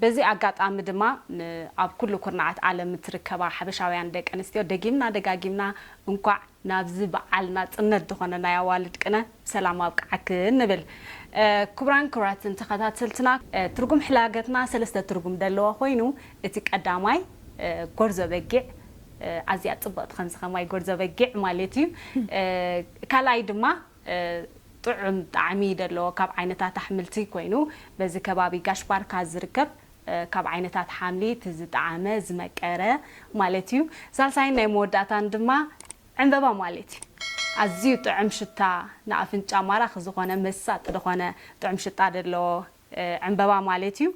በዚ ኣጋጣሚ ድማ ንኣብ ኩሉ ኩርናዓት ዓለም እትርከባ ሓበሻውያን ደቂ ኣንስትዮ ደጊምና ደጋጊምና እንኳዕ ናብዚ በዓል ናጽነት ዝኾነ ናይ ኣዋልድ ቅነ ብሰላም ኣብቀዓክን ንብል። ክቡራን ክቡራትን ተኸታተልትና ትርጉም ሕላገትና ሰለስተ ትርጉም ደለዎ ኮይኑ እቲ ቀዳማይ ጎርዞ በጊዕ ኣዝያ ጽብቕቲ ከምዚ ከማይ ጎርዞ በጊዕ ማለት እዩ ካልኣይ ድማ ጥዑም ጣዕሚ ደለዎ ካብ ዓይነታት ኣሕምልቲ ኮይኑ በዚ ከባቢ ጋሽ ባርካ ዝርከብ ካብ ዓይነታት ሓምሊ እቲ ዝጠዓመ ዝመቀረ ማለት እዩ ሳልሳይን ናይ መወዳእታን ድማ ዕንበባ ማለት እዩ ኣዝዩ ጥዕም ሽታ ንኣፍንጫ ማራኺ ዝኾነ መሳጢ ድኾነ ጥዑም ሽጣ ደለዎ ዕንበባ ማለት እዩ።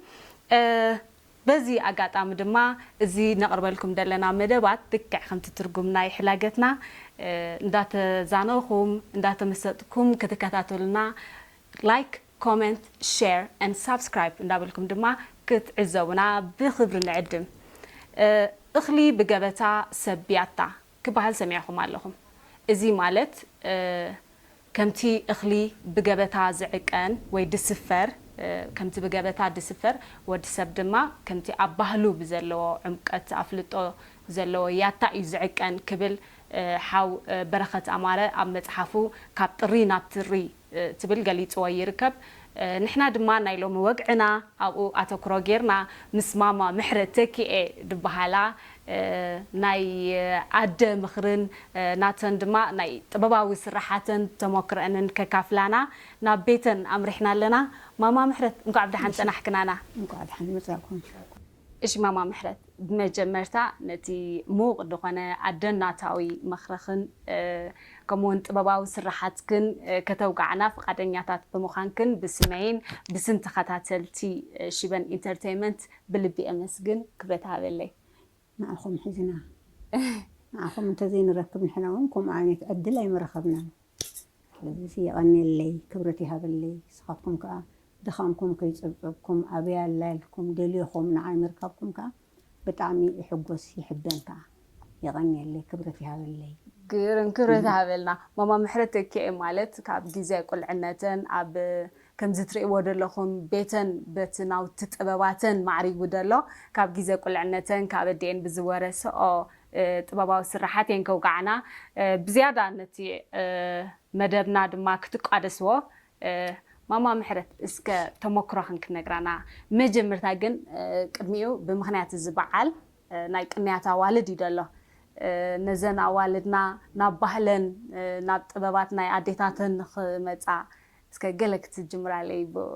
በዚ ኣጋጣሚ ድማ እዚ ነቕርበልኩም ደለና መደባት ልክዕ ከምቲ ትርጉም ናይ ሕላገትና እንዳተዛነኹም እንዳተመሰጥኩም ክትከታተሉና Like Comment Share and Subscribe እንዳበልኩም ድማ ክትዕዘቡና ብኽብሪ ንዕድም። እኽሊ ብገበታ ሰብ ብያታ ክበሃል ሰሚዕኹም ኣለኹም። እዚ ማለት ከምቲ እኽሊ ብገበታ ዝዕቀን ወይ ድስፈር፣ ከምቲ ብገበታ ድስፈር፣ ወድ ሰብ ድማ ከምቲ ኣብ ባህሉ ብዘለዎ ዕምቀት ኣፍልጦ ዘለዎ ያታ እዩ ዝዕቀን ክብል ሓው በረኸት ኣማረ ኣብ መጽሓፉ ካብ ጥሪ ናብ ትሪ፣ ትብል ገሊጽዎ ይርከብ። ንሕና ድማ ናይ ሎሚ ወግዕና ኣብኡ ኣተኩሮ ጌርና ምስ ማማ ምሕረት ተኪኤ ድበሃላ ናይ ኣደ ምኽርን ናተን ድማ ናይ ጥበባዊ ስርሓተን ተሞክረእንን ከካፍላና ናብ ቤተን ኣምሪሕና ኣለና። ማማ ምሕረት እንኳዕ ብደሓን ጸናሕክናና። እንኳዕ ደሓን መጻእኩም። እሺ ማማ ምሕረት ብመጀመርታ ነቲ ምዉቅ ድኾነ ኣደናታዊ ምኽርኽን ከምኡ ዉን ጥበባዊ ስርሓትክን ከተዉግዓና ፍቃደኛታት ብምዃንክን ብስመይን ብስም ተኸታተልቲ ሽበን ኢንተርተይመንት ብልቢ ኣመስግን ክብረት እሃበለይ ንዓኹም ሒዝና ንዓኹም እንተዘይንረክብ ንሕና ዉን ከምኡ ዓይነት ዕድል ኣይምረኸብናን። ስለዚ የቐንየለይ ክብረት ይሃበለይ ንስኻትኩም ከኣ ድኻምኩም ከይጸብጸብኩም ኣበይ ኣላ ኢልኩም ደልየኹም ንዓይ ምርካብኩም ከኣ ብጣዕሚ ይሕጎስ ይሕበን ከኣ የቐንየለይ ክብረት ይሃበለይ። ግርም ክብረት ይሃበልና ማማ ምሕረት ተኪኤ ማለት ካብ ግዜ ቁልዕነተን ኣብ ከምዚ ትርእይዎ ደለኹም ቤተን በቲ ናውቲ ጥበባተን ማዕሪጉ ደሎ ካብ ጊዘ ቁልዕነተን ካብ ኣዲኤን ብዝወረሰኦ ጥበባዊ ስርሓት እየን ከውግዓና ብዝያዳ ነቲ መደብና ድማ ክትቋደስዎ ማማ ምሕረት እስከ ተሞክሮኽን ክትነግራና መጀምርታ ግን ቅድሚኡ ብምኽንያት እዚ በዓል ናይ ቅንያት ኣዋልድ እዩ ደሎ ነዘን ኣዋልድና ናብ ባህለን ናብ ጥበባት ናይ ኣዴታተን ንኽመጻ እስከ ገለ ክትጅምራለይ ብእኡ።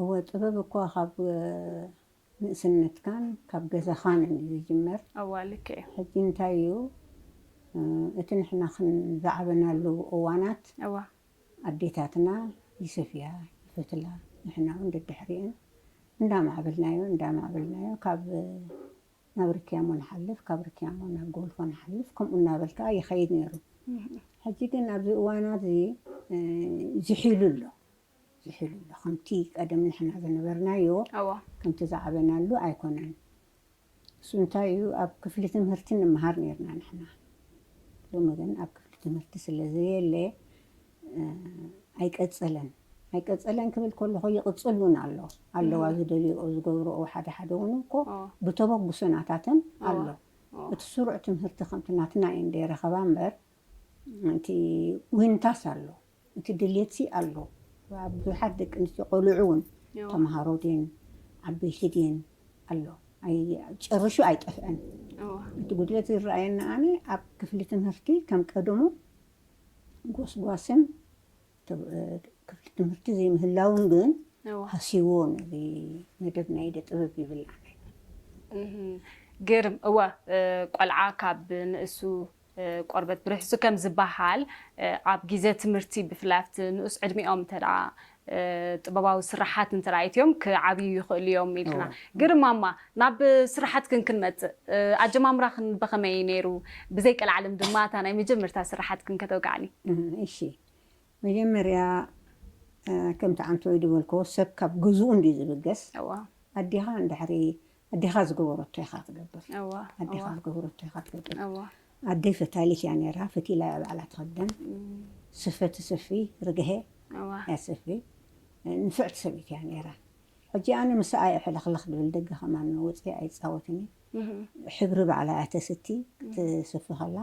እወ ጥበብ እኳ ካብ ንእስነትካን ካብ ገዛኻን እዩ ዝጅመር። እወ ልክዕ እዩ። ሕጂ እንታይ እዩ እቲ ንሕና ዝዓበናሉ እዋናት እወ። ኣዴታትና ይሰፍያ ይፈትላ ንሕና እውን ደድሕሪኤን እንዳማዕበልናዮ እንዳማዕበልናዮ ካብ ናብ ርክያሞ ንሓልፍ፣ ካብ ርክያሞ ናብ ጎልፎ ንሓልፍ፣ ከምኡ እናበል ከኣ ይኸይድ ነይሩ። ሕጂ ግን ኣብዚ እዋን ኣብዚ ዝሒሉ ኣሎ፣ ዝሒሉ ኣሎ። ከምቲ ቀደም ንሕና ዝነበርናዮ፣ ከምቲ ዝዓበናሉ ኣይኮነን። እሱ እንታይ እዩ፣ ኣብ ክፍሊ ትምህርቲ ንመሃር ነይርና ንሕና። ሎሚ ግን ኣብ ክፍሊ ትምህርቲ ስለ ዘየለ፣ ኣይቀጸለን ኣይቀጸለን ክብል ከለኹ ይቕጽል እውን ኣሎ ኣለዋ ዝደልኦ ዝገብርኦ ሓደ ሓደ እውን እኮ ብተበግሶ ናታተን ኣሎ እቲ ስሩዕ ትምህርቲ ከምቲ ናትና እየን ዘይረኸባ እምበር እቲ ዊንታስ ኣሎ እቲ ድሌትሲ ኣሎ ብዙሓት ደቂ ኣንስትዮ ቆልዑ እውን ተምሃሮ ድን ዓበይቲ ድን ኣሎ ጨርሹ ኣይጠፍአን እቲ ጉድለት ዝረኣየና ኣነ ኣብ ክፍሊ ትምህርቲ ከም ቀደሙ ጎስጓስን ክፍሊ ትምህርቲ ዘይምህላውን ግን ሃስይዎ ነዚ መደብ ናይ ኢደ ጥበብ ይብል ግርም እወ ቆልዓ ካብ ንእሱ ቆርበት ብርሕሱ ከም ዝበሃል ኣብ ግዜ ትምህርቲ ብፍላይ ኣብቲ ንኡስ ዕድሚኦም እንተ ጥበባዊ ስርሓት እንተራእይትዮም ክዓብዩ ይኽእሉ እዮም ኢልክና። ግርም ማማ ናብ ስርሓትክን ክንመጽእ ኣጀማምራኽን ብኸመይ እዩ ነይሩ? ብዘይ ቀልዓለም ድማ እታ ናይ መጀመርታ ስርሓትክን ከተውግዓኒ። እሺ መጀመርያ ከምቲ ዓንተወይ ድበልክዎ ሰብ ካብ ገዝኡ እንድዩ ዝብገስ። ኣዴኻ እንድሕሪ ኣዴኻ ዝገበረቶ ኢኻ ትገብር ኣዴኻ ዝገበረቶ ኢኻ ትገብር ኣደይ ፈታሊት እያ ነይራ ፈቲላ እያ ባዕላ ትኸደን ስፈ ትስፊ ርግሀ እያ ትስፊ ንፍዕቲ ሰበይቲ እያ ነይራ ሕጂ ኣነ ምስኣ እየ ሕልኽልኽ ድብል ደገ ከማን ወፅየ ኣይፃወትን ሕብሪ ባዕላ እያ ተስቲ ክትስፊ ከላ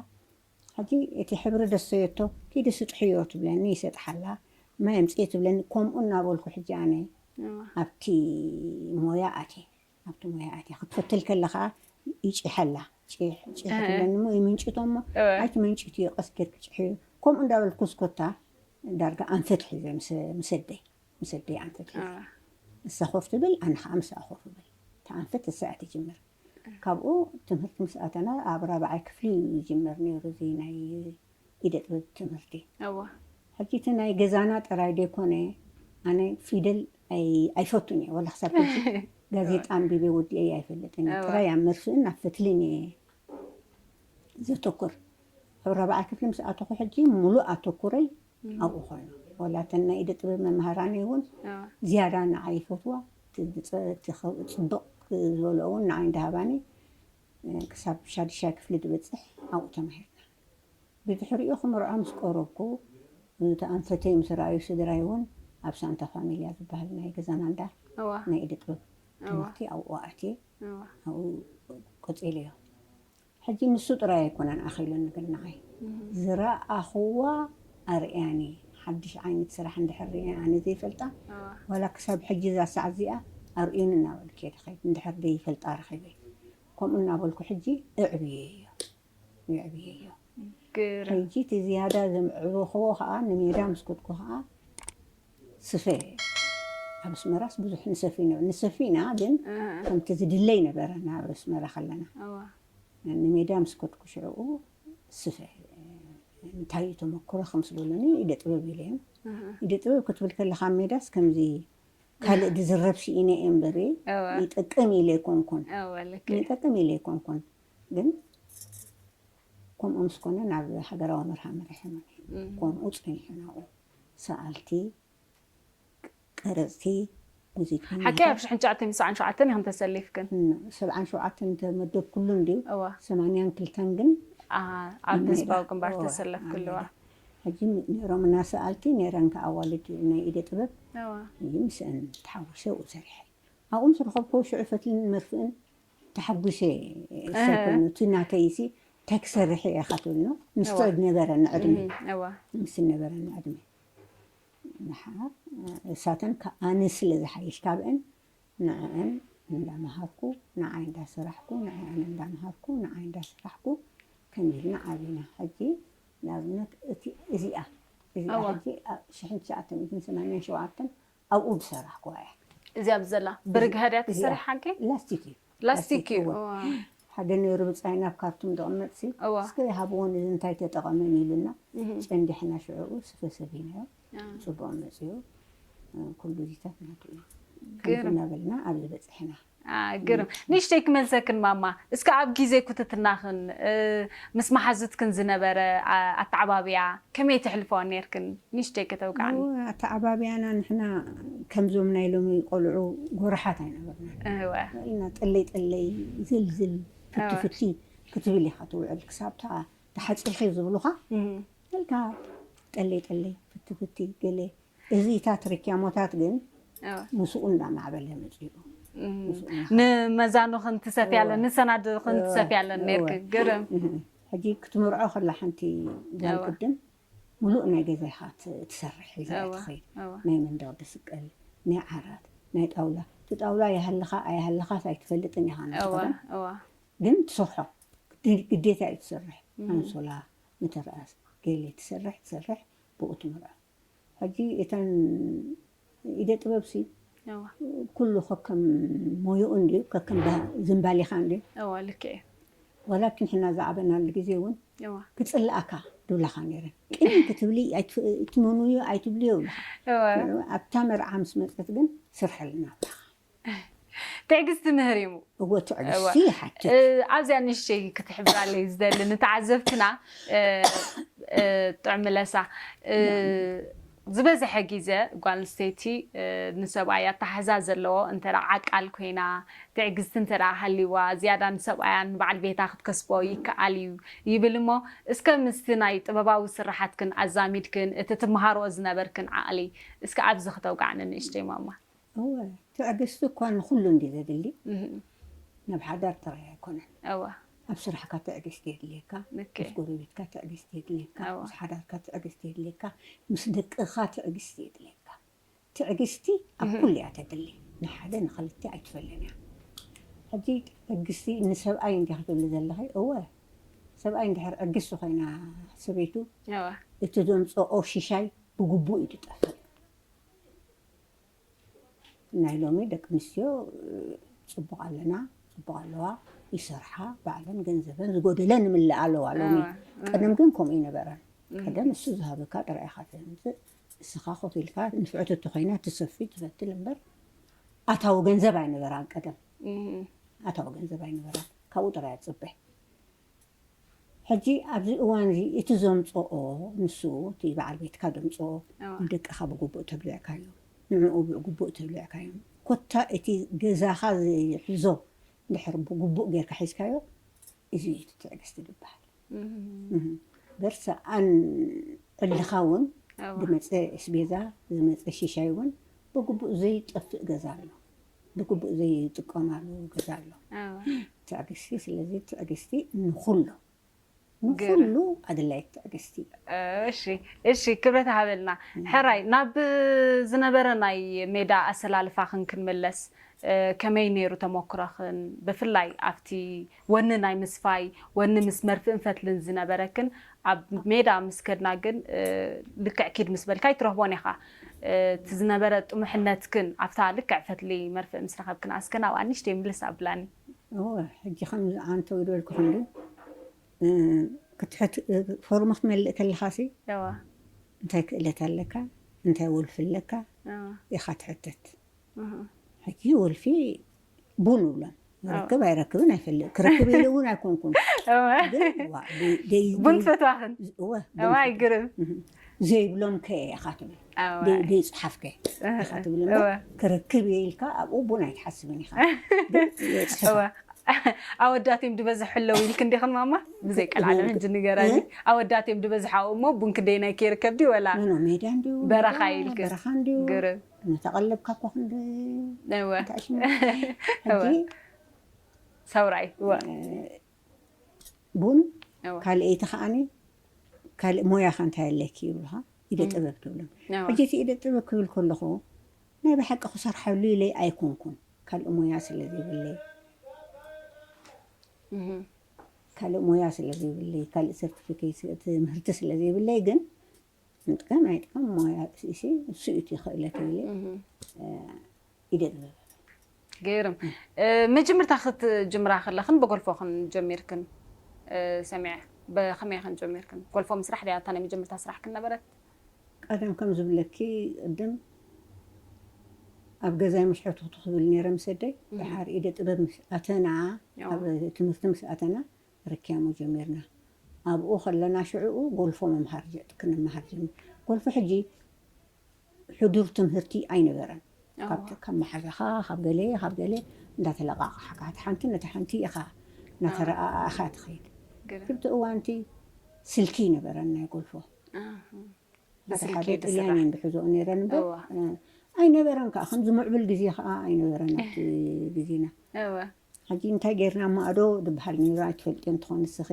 ሕጂ እቲ ሕብሪ ደሰዮቶ ኪዲ ስጥሕዮ ትብለኒ ይሰጥሓላ ማይ ኣምጽኢ ትብለኒ ኮምኡ እናበልኩ ሕጂ ኣነ ኣብቲ ሞያ ኣትየ ኣብቲ ሞያ ኣትየ ክትፈትል ከለ ከኣ ይጪሐላ ጪሕ ጪሕ ትብለኒ እሞ ይምንጭቶ እሞ ኣይትመንጭትዮ ቀስ ጌርኪ ጪሕዮ ኮምኡ እንዳበልኩ እስኮታ ዳርጋ ኣንፈት ሒዘ ምስ ምስ ኣደይ ምስ ኣደይ ኣንፈት ሒዘ ንሳ ኮፍ ትብል ኣነ ከኣ ምስኣ ኮፍ እብል እቲ ኣንፈት እሳ እያ ትጅምር ካብኡ ትምህርቲ ምስ ኣተና ኣብ ራብዓይ ክፍሊ እዩ ዝጅመር ነይሩ እዚ ናይ ኢደ ጥበብ ትምህርቲ። እወ። ሕጂ እቲ ናይ ገዛና ጥራይ ዘይኮነ ኣነ ፊደል ኣይፈቱን እየ ዋላ ክሳብ ሕጂ ጋዜጣ ኣንቢበ ወዲኤዮ ኣይፈልጥን እየ ጥራይ ኣብ መርፍእን ኣብ ፈትልን እየ ዘተኩር ኣብ ራብዓይ ክፍሊ ምስ ኣተኹ ሕጂ ሙሉእ ኣተኩረይ ኣብኡ ኮይኑ ዋላ እተን ናይ ኢደ ጥበብ መምሃራነይ እውን ዝያዳ ንዓይ ይፈትዋ እቲ ብጸ-እቲ ከምኡ ጽብቕ ዝበልኦ እውን ንዓይ እንዳ ሃባኒ ክሳብ ሻዱሻይ ክፍሊ ድበጽሕ ኣብኡ ተማሂርና። ብድሕሪኡ ክምርዖ ምስ ቀረብኩ እቲ ኣንፈተይ ምስ ረኣዩ ስድራይ እውን ኣብ ሳንታ ፋሚልያ ዝበሃል ናይ ገዛና እንዳ ናይ ኢደ ጥበብ ትምህርቲ ኣብኡ ኣእትየ ኣብኡ ቀጺለዮ። ሕጂ ንሱ ጥራይ ኣይኮነን ኣኺሉ ንግናይ ዝረኣኹዋ ኣርእያኒ ሓድሽ ዓይነት ስራሕ እንድሕር ሪኤ ኣነ ዘይፈልጣ ዋላ ክሳብ ሕጂ እዛ ሰዓት እዚኣ ኣርእዩኒ እናበልኩ እየ ድኸይድ እንድሕር ዘይፈልጣ ረኺበ ከምኡ እናበልኩ ሕጂ እዕብየዮ የዕብየዮ ሕጂ እቲ ዝያዳ ዘምዕበኹዎ ከኣ ንሜዳ ምስ ከድኩ ከኣ ስፈ ኣብ ኣስመራስ ብዙሕ ንሰፊ ነበ ንሰፊ ኢና ግን ከምቲ ዝድለ ኣይነበረን ኣብ ኣስመራ ከለና ንሜዳ ምስ ከድኩ ሽዕኡ ስፈ እንታይ እዩ ተመክሮ ከምስ በሉኒ ኢደ ጥበብ ኢለዮም ኢደ ጥበብ ክትብል ከለካ ኣብ ሜዳስ ከምዚ ካልእ ዝዝረብ ስኢነ እየ እምበር ይጠቅም ኢለ ኣይኮንኩን ይጠቅም ኢለ ኣይኮንኩን ግን ከምኡ ምስ ኮነ ናብ ሃገራዊ መርሃ መሪሐ ከምኡ ፀኒሐ ናብኡ ሰኣልቲ፣ ቀረጽቲ፣ ሙዚቀኛታት። ሓቀይ ኣብ ሽሕን ትሽዓተን ትስዓን ሸውዓተን ኢኽን ተሰሊፍክን። ን ሰብዓን ሸውዓተን ዝተመደብኩሉ እንድዩ። እወ። ሰማንያን ክልተን ግን ኣሃ ኣብ ኣብ ሜዳ። ህዝባዊ ግንባር እወ፣ ኣብ ዝተሰለፍክሉ። ሜዳ። ሕጂ ነይሮምና ሰኣልቲ፣ ነይረን ከኣ ኣዋልድ ናይ ኢደ ጥበብ። እወ። ሕጂ ምስአን ተሓዊሰ ኣብኡ ሰሪሐ። ኣብኡ ምስ ረኸብኩ ሽዑ ፈትልን መርፍእን ተሓጉሰ እሰ ኮይኑ እቲ ናተይ ሲ እንታይ ክሰርሕ እየ ካትብል ን ምስቶ ዝነበረኒ ዕድመ ምስ ዝነበረኒ ዕድመ ምሓር እሳተን ካብ ኣነ ስለ ዝሓይሽ ካብእን ንዐዐን እንዳመሃርኩ ንዓይ እንዳሰራሕኩ ንዐዐን እንዳመሃርኩ ንዓይ እንዳሰራሕኩ ከምዚ ኢልና ዓቢና ሕጂ ንኣብነት እቲ እዚኣ እዚኣ ሕጂ ኣብ ሽሕን ትሽዓተ ሚእትን ሰማንያን ሸውዓተን ኣብኡ ዝሰራሕኩዋ እያ። እዚ ኣብዚ ዘላ ብርግሀ ድያ ተሰሪሓኪ? ላስቲክ እዩ። ላስቲክ እዩ። ሓደ ነይሩ ብፃይ ናብ ካርቱም ዘቕመጥሲ እስከ ይሃብዎ ንዚ እንታይ ተጠቐመን ኢሉና ጨንዲሕና ሽዕኡ ስፈ ሰፊናዮ ፅቡቕ መፅኡ ኩሉ እዚታት ናቱ እዩ ከምቲ እናበልና ኣብዚ በፅሕና። ግርም ንእሽተይ ክመልሰክን ማማ እስከ ኣብ ግዜ ኩትትናኽን ምስ መሓዙትክን ዝነበረ ኣተዓባብያ ከመይ ተሕልፈኦ ኔርክን ንእሽተይ ከተውግዓኒ። እወ ኣተዓባብያና ንሕና ከምዞም ናይ ሎሚ ቆልዑ ጎራሓት ኣይነበርናን ኢና ጥልይ ጥልይ ዝል ዝል ፍቲ ፍቲ ክትብል ኢኻ ትውዕል ክሳብ እታ ተሓጺኺ ዝብሉኻ ኢልካ ጥልይ ጥልይ ፍቲ ፍቲ ገለ እዚ ታት ሪኪያሞታት ግን ምስኡ እንዳማዕበለ መጺኡ ንመዛኑ ክንትሰፍያለን ንሰናድ ክንትሰፍያለን ነርኪ ግርም ሕጂ ክትምርዖ ከላ ሓንቲ ጓል ቅድም ሙሉእ ናይ ገዛ ኢኻ ትሰርሕ ሒዛያ ትኸይድ ናይ መንደቕ ድስቀል ናይ ዓራት ናይ ጣውላ እቲ ጣውላ ይሃልኻ ኣይሃልኻስ ኣይትፈልጥን ኢኻ ነቲ ክዳን ግን ትሰርሖ ግዴታ እዩ ትሰርሕ ኣንሶላ ምትርኣስ ገለ ትሰርሕ ትሰርሕ ብኡ ትምርዖ ሕጂ እተን ኢደ ጥበብሲ እወ ኩሉ ከከም ሞዩኡ እንድዩ ከከም ባ ዝምባሌኻ እንድዩ እወ ልክዕ እዩ ዋላኪን ሕና ዝዓበናሉ ግዜ እውን እወ ክጽልኣካ ድብላኻ ነይረን ቅንይ ክትብሊ ኣይት- ኣይትመንውዮ ኣይትብልዮ ይብላኻ እወ ኣብታ መርዓ ምስ መጸት ግን ስርሐልና ኣብላኻ ትዕግስቲ ምህሪሙ። እወ ትዕግስቲ ይሓትት። ኣብዚኣ ንእሽተይ ክትሕብራለይ ዝደሊ ንተዓዘብትና ጥዑም ለሳ ዝበዝሐ ግዜ ጓል ኣንስተይቲ ንሰብኣይ ኣተሓሕዛ ዘለዎ እንተ ዓቃል ኮይና ትዕግስቲ እንተ ሃልይዋ ዝያዳ ንሰብኣያ ንበዓል ቤታ ክትከስቦ ይከኣል እዩ ይብል እሞ እስከ ምስቲ ናይ ጥበባዊ ስርሓትክን ኣዛሚድክን እቲ ትመሃርኦ ዝነበርክን ዓቕሊ እስከ ኣብዚ ክተውግዓኒ ንእሽተይ ማማ። እወ ትዕግስቲ እኳ ንኹሉ እንድዩ ዘድሊ ናብ ሓዳር ጥራይ ኣይኮነን እወ ኣብ ስራሕካ ትዕግስቲ የድልየካ ልክዕ ምስ ጎረቤትካ ትዕግስቲ የድልየካ እወ። ምስ ሓዳርካ ትዕግስቲ የድልየካ ምስ ደቅኻ ትዕግስቲ የድልየካ ትዕግስቲ ኣብ እህ። ኩሉ እያ ተድሊ ንሓደ ንኽልተ ኣይትፈልንያ ሕጂ ትዕግስቲ ንሰብኣይ እንድያ ክትብሊ ዘለኺ እወ ሰብኣይ እንድሕር ዕግስቲ ኮይና ሰበይቱ እወ እቲ ዘምጽኦ ሽሻይ ብግቡእ እዩ ዝጠፍእ ናይ ሎሚ ደቂ ኣንስትዮ ፅቡቅ ኣለና ፅቡቅ ኣለዋ ይሰርሓ ባዕለን ገንዘበን ዝጎደለ ንምልእ ኣለዋ ሎሚ ቀደም ግን ከምኡ ይነበረን ቀደም እሱ ዝሃበካ ጥራይ ኢኻ ትምፅእ ንስኻ ኮፍ ኢልካ ንፍዕቲ እተኮይና ትሰፊ ትፈትል እምበር ኣታዊ ገንዘብ ኣይነበራን ቀደም ኣታዊ ገንዘብ ኣይነበራን ካብኡ ጥራይ ኣፅበ ሕጂ ኣብዚ እዋን እዚ እቲ ዘምጽኦ ንሱ እቲ በዓል ቤትካ ዘምጽኦ ንደቅኻ ብግቡእ ተብሊዕካዮም ንዕኡ ብግቡእ ተብሊዕካዮም ኮታ እቲ ገዛኻ ዝሕዞ እንድሕር ብግቡእ ጌርካ ሒዝካዮ እዚ እዩ እቲ ትዕግስቲ ዝበሃል እምበር ሰኣን ዕልኻ እውን ዝመጸ እስቤዛ ዝመጸ ሺሻይ እውን ብግቡእ ዘይጠፍእ ገዛ ኣሎ ብግቡእ ዘይጥቀማሉ ግዘ ኣሎ ትዕግስቲ ስለዚ ትዕግስቲ ንኩሉ ንኩሉ ኣድላይት ትዕግስቲ እዩ። እሺ እሺ ክብረት ሃበልና ሕራይ ናብ ዝነበረ ናይ ሜዳ ኣሰላልፋኽን ክንምለስ ከመይ ነይሩ ተሞክሮኽን ብፍላይ ኣብቲ ወኒ ናይ ምስፋይ ወኒ ምስ መርፍእን ፈትልን ዝነበረክን ኣብ ሜዳ ምስ ከድና ግን ልክዕ ኪድ ምስ በልካ ኣይትረኽቦን ኢኻ። እቲ ዝነበረ ጥሙሕነትክን ኣብታ ልክዕ ፈትሊ መርፍእ ምስ ረኸብክን ኣስከ ናብኣ ንእሽተይ ምልስ ኣብላኒ። እወ ሕጂ ከምዚ ኣንተው ዝበልኩኽን ግን ክትሕት ፎርም ክትመልእ ከለኻሲ እንታይ ክእለት ኣለካ እንታይ ወልፊ ኣለካ ኢኻ ትሕተት። ሕጂ ወልፊ ቡን እብሎም ይረክብ ኣይረክብን ኣይፈልጥ ክረክብ ኢሉ እውን ኣይኮንኩን ቡን ትፈትዋኽን ኣይግርም ዘይብሎም ከ ኢኻ ትብል ዘይፅሓፍ ከ ኢኻ ትብል ክረክብ እየ ኢልካ ኣብኡ ቡን ኣይትሓስብን ኢኻ ኣወዳት እዮም ድበዝሕ ኣለዉ ኢልክ እንዲኽን ማማ ብዘይ ቀልዓለም ሕጂ ንገራኒ ኣወዳት እዮም ድበዝሕ ኣብኡ እሞ ቡን ክደይናይ ከይርከብ ድዩ ወላ በረኻ ኢልክ ግርም እናተቐለብካ እኳ ክንዲ እወ እንታይ ሽሙ እወ ሕጂ ሰውራይ እወ ቡን እወ ካልኣይቲ ከዓኒ ካልእ ሞያኸ እንታይ ኣለኪ ይብሉኻ ኢደ እም፣ ጥበብ ትብሎም እወ ሕጂ እቲ ኢደ ጥበብ ክብል ከለኹ ናይ ብሓቂ ክሰርሓሉ ኢለይ ኣይኮንኩን ካልእ ሞያ ስለ ዘይብለይ እህም፣ ካልእ ሞያ ስለ ዘይብለይ ካልእ ሰርቲፊኬት ትምህርቲ ስለ ዘይብለይ ግን ንጥቀም ኣይጥቀም ሞያ ርእሲ እሱ እዩ እቲ ክእለት እየ ኢደ ጥበብ ገይርም መጀመርታ ክትጅምራ ከለኽን ብጎልፎ ክንጀሚርክን ሰሚዐ ብከመይ ክንጀሚርክን ጎልፎ ምስራሕ ድያ እታ ናይ መጀመርታ ስራሕክን ነበረት ቀደም ከም ዝብለኪ ቅድም ኣብ ገዛይ ምስ ሕቱ ክትብል ነይረ ምስ ኣደይ ድሓር ኢደ ጥበብ ምስ ኣተና ኣብ ትምህርቲ ምስ ኣተና ርክያሞ ጀሚርና ኣብኡ ከለና ሽዕኡ ጎልፎ ምምሃር ክንምሃር ጀሚርና ጎልፎ ሕጂ ሕዱር ትምህርቲ ኣይነበረን ካብ ካብ መሓዛኻ ካብ ገለ ካብ ገለ እንዳተለቃቕሓካ እቲ ሓንቲ ነቲ ሓንቲ ኢኻ እናተረኣኣኻ ትኸይድ ክብቲ እዋንቲ ስልኪ ይነበረን ናይ ጎልፎ ሓደ ሓደ ጥልያን እየን ዝሕዞኦ ነይረን እምበር ኣይነበረን ከዓ ከምዚ ምዕብል ግዜ ከዓ ኣይነበረን ኣብቲ ግዜና ሐጂ እንታይ ገይርና ማእዶ ድብሃል ነይሩ ኣይትፈልጥዮን ትኾኒ ንስኺ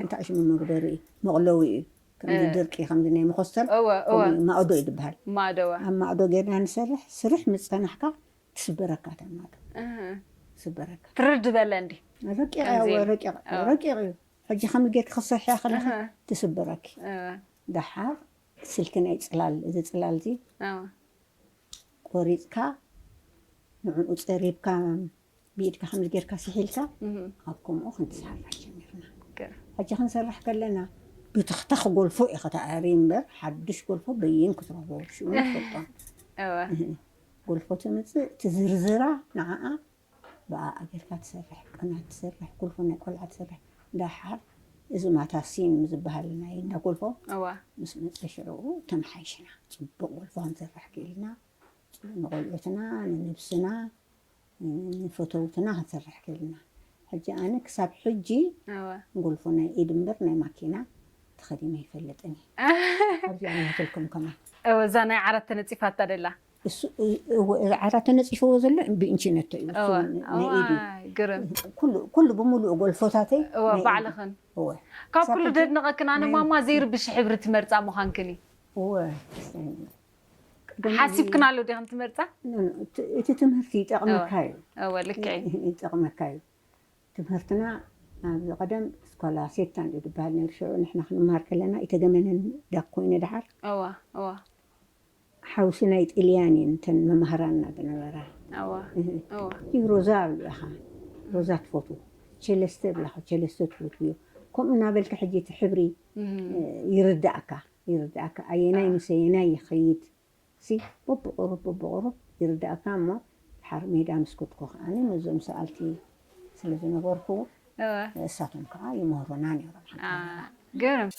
እንታይ ሽሙ መግበሪ እዩ መቕለዊ እዩ ከምዚ ድርቂ ከምዚ ናይ መኾስተር ማእዶ እዩ ድብሃል ኣብ ማእዶ ገይርና ንሰርሕ ስርሕ ምስ ፀናሕካ ትስበረካ እታ ማእዶ ስበረካ ትርድ በለ እንዲ ረቂቕ ረቂቕ እዩ ሕጂ ከምዚ ጌርኪ ክትሰርሕያ ከለኺ ትስበረኪ ደሓር ስልኪ ናይ ፅላል እዚ ፅላል እዚ ቆሪጽካ ንዕኡ ጸሪብካ ብኢድካ ከምዚ ጌርካ ስሒልካ ኣብ ከምኡ ክንሰርሕ ጀሚርና ሕጂ ክንሰርሕ ከለና ብትኽታኽ ጎልፎ እዩ ከተኣሪ እምበር ሓድሽ ጎልፎ በይን ክትረኽቦ ሽኡ ትፈልጦ ጎልፎ ትምፅእ ትዝርዝራ ንዓኣ ብኣኣ ኣቢልካ ትሰርሕ ቅናት ትሰርሕ ጉልፎ ናይ ቆልዓ ትሰርሕ ዳሓር እዚ ማታ ሲም ዝባሃል ናይ እንዳ ጉልፎ ምስ መጸ ሽዑኡ ተማሓይሽና ጽቡቅ ጉልፎ ክንሰርሕ ኪኢልና ንቆልዑትና ንነብስና ንፈተውትና ክንሰርሕ ኪኢልና ሕጂ ኣነ ክሳብ ሕጂ ጉልፎ ናይ ኢድ እምበር ናይ ማኪና ተኸዲነ ኣይፈልጥን እየ ኣብዚኣ ናትልኩም ከማን እዛ ናይ ዓራት ተነጺፋታ ደላ እሱ እወ እዚ ዓራት ተነጺፍዎ ዘሎ ብእንቺነቶ እዩ እወ እሱ ናይ እዋይ ኢዱ ግርም ኩሉ ኩሉ ብምሉኡ ጎልፎታተይ እወ ናይ ኢዱ ባዕልኽን እወ ካብ ክሳብ ኩሉ ሕጂ ደድንቐክን ኣነ ናይ ማማ ዘይርብሽ ሕብሪ ትመርጻ ምዃንክን እዩ እወ ቅድም ሓሲብክናሉ ዲኽን ትመርጻ ኖ፣ ኖ፣ እቲ እቲ ትምህርቲ እወ ይጠቕመካ እዩ እወ ልክዕ እዩ ይጠቕመካ እዩ ትምህርትና ኣብዚ ቀደም ስኮላ ሴታን እዩ ዝበሃል ነይሩ ሽዑ ንሕና ክንመሃር ከለና ኢተገመነን ዳክ ኮይኑ ደሓር እወ እወ ሓውሲ ናይ ጥልያን እየን እተን መማህራንና ዝነበራ። እወ እወ። እቲ ሮዛ ኣብሊዕኻ ሮዛ ትፈትዎ ቸለስተ እብላኻ ቸለስተ ትፈትውዮ ከምኡ እናበልካ ሕጂ እቲ ሕብሪ ይርድኣካ ይርድኣካ ኣየናይ ምስ ኣየናይ ይኸይድ ሲ በብቑሩብ በብቑሩብ ይርድኣካ እሞ ድሓር ሜዳ ምስ ከድኩ ከኣ ነዞም ሰኣልቲ ስለ ዝነበርኩ እወ ንእሳቶም ከዓ ይምህሩና ነይሮም አ፣ ግርም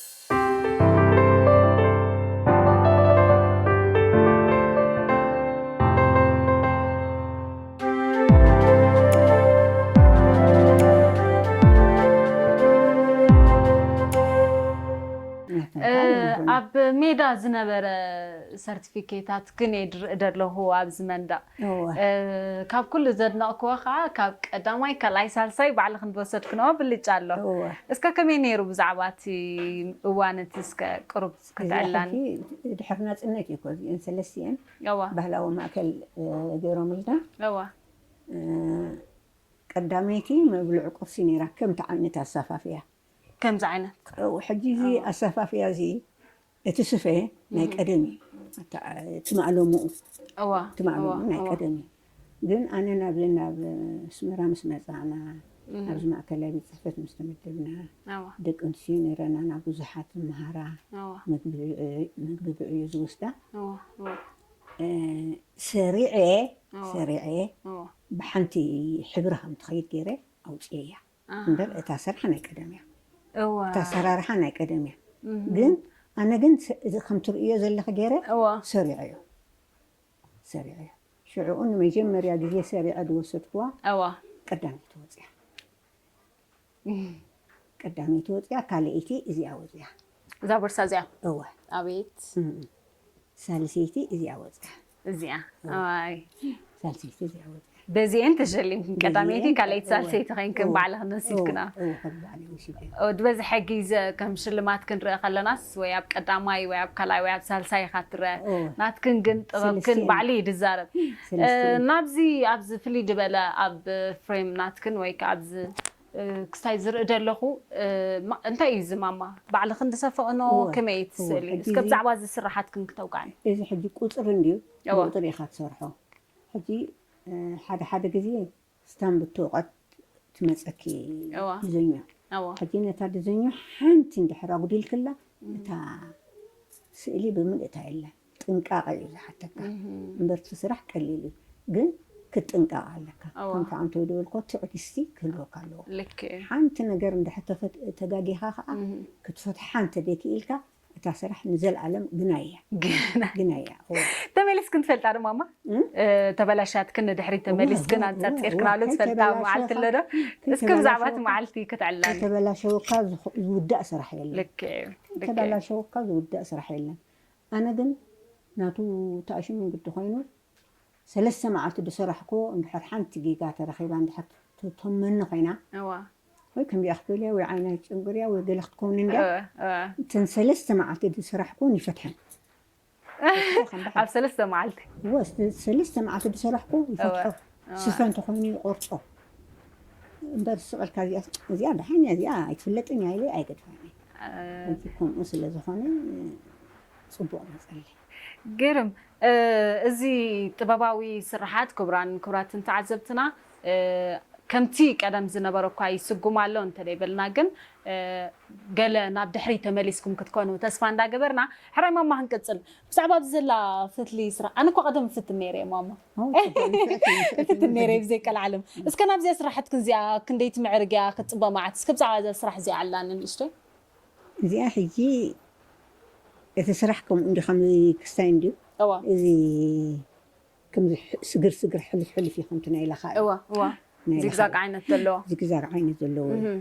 እ፣ ኣብ ሜዳ ዝነበረ ሰርቲፊኬታት ግን የድርእ ደለኹ ኣብዚ መንደቕ ካብ ኩሉ ዘድነቕክዎ ከኣ ካብ ቀዳማይ ካልኣይ ሳልሳይ ባዕሊ ክንዲ ወሰድክንኦ ብልጫ ኣሎ እስከ ከመይ ኔሩ ብዛዕባ እቲ እዋን እቲ እስከ ቅሩብ ክትዕላኒ። ድሕሪ ናጽነት እዩ እኮ እዚኤን ሰለስቲኤን ባህላዊ ማእከል ጌሮምልና ቀዳመይቲ መብልዕ ቁርሲ ኔራ ከምቲ ዓይነት ኣሳፋፍያ ከምዚ ዓይነት ሕጂ እዚ ኣሳፋፍያ እዚ እቲ ስፈ ናይ ቀደም እዩ ኣታ እቲ ማእለሙኡ እዋ እቲ ማእለሙኡ እዋ ናይ እዋ ቀደም እዩ ግን ኣነ ናብ ናብ ኣስመራ ምስ መጻእና እህ ኣብዚ ማእከላይ ቤት ጽሕፈት ምስ ተመደብና እዋ ደቂ ኣንስትዮ ነይረናና ብዙሓት ዝመሃራ እዋ ምግቢ ብዕዮ ምግቢ ብዕዮ ዝወስዳ እዋ እዋ እ ሰሪዐ እዋ ሰሪዐ እዋ ብሓንቲ ሕብሪ ከም ትኸይድ ገይረ ኣውጽኤያ እምበር እታ ስራሕ ናይ ቀደም እያ እወ እታ ኣሰራርሓ ናይ ቀደም እያ ግን ኣነ ግን እዚ ከም ትርእዮ ዘለኺ ጌረ እወ ሰሪዐዮ ሰሪዐዮ ሽዑኡ ንመጀመርያ ግዜ ሰሪዐ ዝወሰድክዋ እወ ቀዳመይቲ ወጺኣ ቀዳመይቲ ወጺኣ ካልኣይቲ እዚኣ ወጺኣ እዛ ቦርሳ እዚኣ እወ ኣቤት እም ሳልሰይቲ እዚኣ ወጺኣ እዚኣ ሳልሰይቲ እዚኣ ወፂኣ በዚኤን ተሸሊምክን ቀዳመይቲ ካልኣይቲ ሳልሰይቲ ኮይንክን ባዕልክን ወሲድክና ዝበዝሐ ግዜ ከም ሽልማት ክንርኢ ከለናስ ወይ ኣብ ቀዳማይ ወይ ኣብ ካልኣይ ወይ ኣብ ሳልሳይ ኢካ ትረአ ናትክን ግን ጥበብክን ባዕሉ እዩ ዝዛረብ ናብዚ ኣብዚ ፍልይ ዝበለ ኣብ ፍሬም ናትክን ወይ ከዓ ኣብዚ ክስታይ ዝርኢ ደለኹ እንታይ እዩ እዚ ማማ ባዕልኽን ዝሰፈቕኖ እወ ከመይ እቲ እወ ስእሊ ሕጂ እስከ እዚ ብዛዕባ እዚ ስርሓትክን ክተውግዕኒ እዚ ሕጂ ቁጽሪ እንድዩ እወ ብቑጽሪ ኢኻ ትሰርሖ ሕጂ ሓደ ሓደ ግዜ ስታምብ እትወቐት ትመጸኪ እወ ድዘኞ እወ ሕጂ ነታ ድዘኞ ሓንቲ እንድሕር ኣጉዲልክላ እታ ስእሊ ብምልእታ የላን። ጥንቃቀ እዩ ዝሓተካ እምበር እቲ ስራሕ ቀሊል እዩ ግን ክትጥንቀቅ ኣለካ እወ። ከምቲ ኣንተ ዝበልኮ ትዕግስቲ ክህልወካ ኣለዎ ልክ እዩ ሓንቲ ነገር እንድሕር ተፈት ተጋጊካ ከኣ ክትፈትሓ እንተ ዘይክኢልካ እታ ስራሕ ንዘልኣለም ግናይ እያ ግናይ ግናይ እያ እወ ተመሊስክን ትፈልጣ ዶ ማማ እ? እ፣ ተበላሻትክን ንድሕሪት እወ፣ ተመሊስክን እወ፣ ኣንጸርጺርክናሉ እወ፣ ትፈልጣ መዓልቲ ከይተበላሸወካ- ኣሎ ዶ እስኪ ብዛዕባ እቲ ከይተበላሸወካ- መዓልቲ ክትዕልላኒ ከይተበላሸወካ ዝኽ- ዝውዳእ ስራሕ የለን ልክ እዩ ልክ እዩ ከይተበላሸወካ ዝውዳእ ስራሕ የለን ኣነ ግን ናቱ ታኣሽሙ እንግዲ ኮይኑ ሰለስተ ማዓልቲ ድሰራሕኩዎ እንድሕር ሓንቲ ጊጋ ተረኺባ እንድሕር ትቶመኒ ኮይና እወ ወይ ከምዚኣ ክትበልያ ወይ ዓይና ይጭንግርያ ወይ ገለ ክትከውን እንድያ እወ እወ እተን ሰለስተ ማዓልቲ ድሰራሕኩዎን ይፈትሐን ይፈትሖ ከም ባሓ ኣብ ሰለስተ ማዓልቲ እወ ሰለስተ ማዓልቲ ድሰራሕኩዎ ይፈትሖ እወ ስፈ እንተኾይኑ ይቆርጾ እምበር ስቅ እልካ እዚኣ እዚኣ ዳሓን እያ እዚኣ ኣይትፍለጥን እያ ኢለ ኣይገድፋን እየ። እዚ ከምኡ ስለ ዝኾነ ፅቡቕ መፀለይ። ግርም እዚ ጥበባዊ ስርሓት ክቡራን ክቡራትን ተዓዘብትና ከምቲ ቀደም ዝነበሮ እኳ ይስጉም ኣሎ እንተደይበልና ግን ገለ ናብ ድሕሪት ተመሊስኩም ክትኮኑ ተስፋ እንዳገበርና ሕራይ ማማ ክንቅፅል ብዛዕባ ኣብዚ ዘላ ፈትሊ ስራሕ ኣነ እኳ ቀደም እፍትን ነይረ እየ ማማ እትትን ነይረ ብዘይ ቀልዓለም እስከ ናብዚኣ ስራሕትክን እዚኣ ክንደይ ትምዕርግ እያ ክትፅበ መዓት እስከ ብዛዕባ እዛ ስራሕ እዚኣ ዕላኒ ንእሽተይ እዚኣ ሕጂ እቲ ስራሕ ከምኡ እንዲ ከምዚ ክስታይ እንድዩ እዋ እዚ ከምዚ ስግር ስግር ሕልፍ ሕልፍ እዩ ከምቲ ናይ ላኻ እዩ እዋ እዋ ናይ ላኻ ዚግዛግ እዩ ዓይነት ዘለዎ ዚግዛግ ዓይነት ዘለዎ እዩ እህ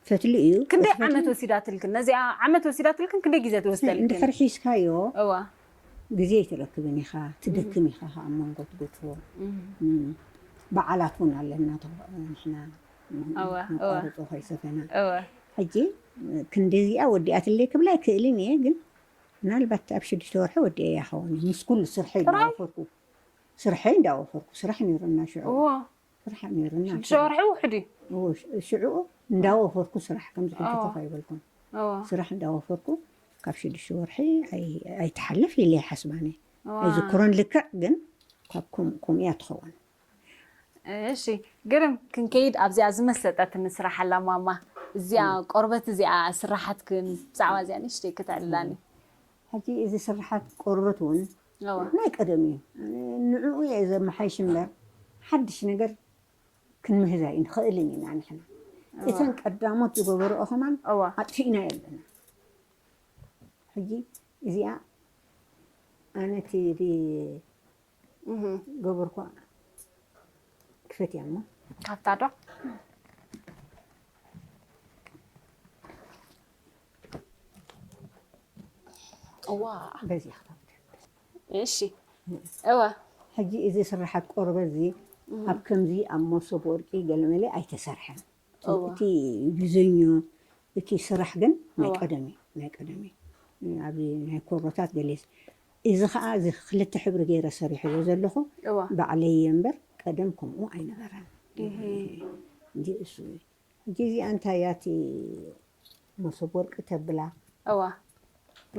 ፈትሊ እዩ ክንደይ እቲ ዓመት ፈትሊ ወሲዳትልክን ነዚኣ ዓመት ወሲዳትልክን ክንደይ ግዜ ትወስደልክን እንድሕር ሒዝካዮ እወ ግዜ ኣይትረክብን ኢኻ ትደክም ኢኻ ከዓ ኣብ መንጎ ትጉትፎ እም፣ በዓላት እውን ኣለና ተ- ንሕና እወ፣ እወ። ነቋርፆ ከይሰፈና እወ ሕጂ ክንዲዚኣ ወዲኣትለይ ክብላ ኣይክእልን እየ ግን ምናልባት ኣብ ሽዱሽተ ወርሒ ወዲኣያ ይኸውን እዩ ምስ ኩሉ ስርሐይ ጥራይ? እንዳወፈርኩ ስርሐይ እንዳወፈርኩ ስራሕ ነይሩና ሽዑ እወ ፍርሓት ነይሩና ሽዱሽተ ኣኪለ። ወርሒ ውሕድ እዩ እዎ፣ ሽ- ሽዑኡ እንዳወፈርኩ ስራሕ ከምዚ ሕጂ እዎ ኮፍ ኣይበልኩን። እዎ ስራሕ እንዳወፈርኩ ካብ ሽዱሽተ ወርሒ ኣይ- ኣይትሓልፍ ኢለ ይሓስብ ኣነ። እዋ ኣይዝክሮን ልክዕ ግን ካብ ከም- ከምኡ እያ ትኸውን። እሺ ግርም ክንከይድ ኣብዚኣ ዝመሰጠትኒ ስራሕ ኣላ ማማ እዚኣ ቆርበት እዚኣ ስራሓትክን ብዛዕባ እዚኣ ንእሽተይ ክተዕልላኒ ሕጂ እዚ ስርሓት ቆርበት ውን ናይ ቀደም እዩ ንዕኡ እየ ዘመሓይሽ እምበር ሓድሽ ነገር ክንምህዝ ኣይንኽእልን ኢና ንሕና እተን ቀዳሞት ዝገበርኦ ከማን ኣጥፊእናዮ ኣለና ሕጂ እዚኣ ኣነ እቲ ገበርኳ ክፈትያ እሞ ካብታ ዶ እዋ በዚ ክታብት እሺ እወ ሕጂ እዚ ስራሓት ቆርበት እዚ ኣብ ከምዚ ኣብ መሶብ ወርቂ ገለመለ ኣይተሰርሐን እቲ ዲዘኙ እቲ ስራሕ ግን ናይ ቀደም እዩ ናይ ቀደም እዩ ኣብዚ ናይ ኮሮታት ገሌ እዚ ከኣ እዚ ክልተ ሕብሪ ገይረ ሰሪሐዮ ዘለኹ ባዕለይ እየ እምበር ቀደም ከምኡ ኣይነበረን እንጂ እሱ እዩ ሕጂ እዚኣ እንታይ እያ እቲ መሶብ ወርቂ ተብላ እወ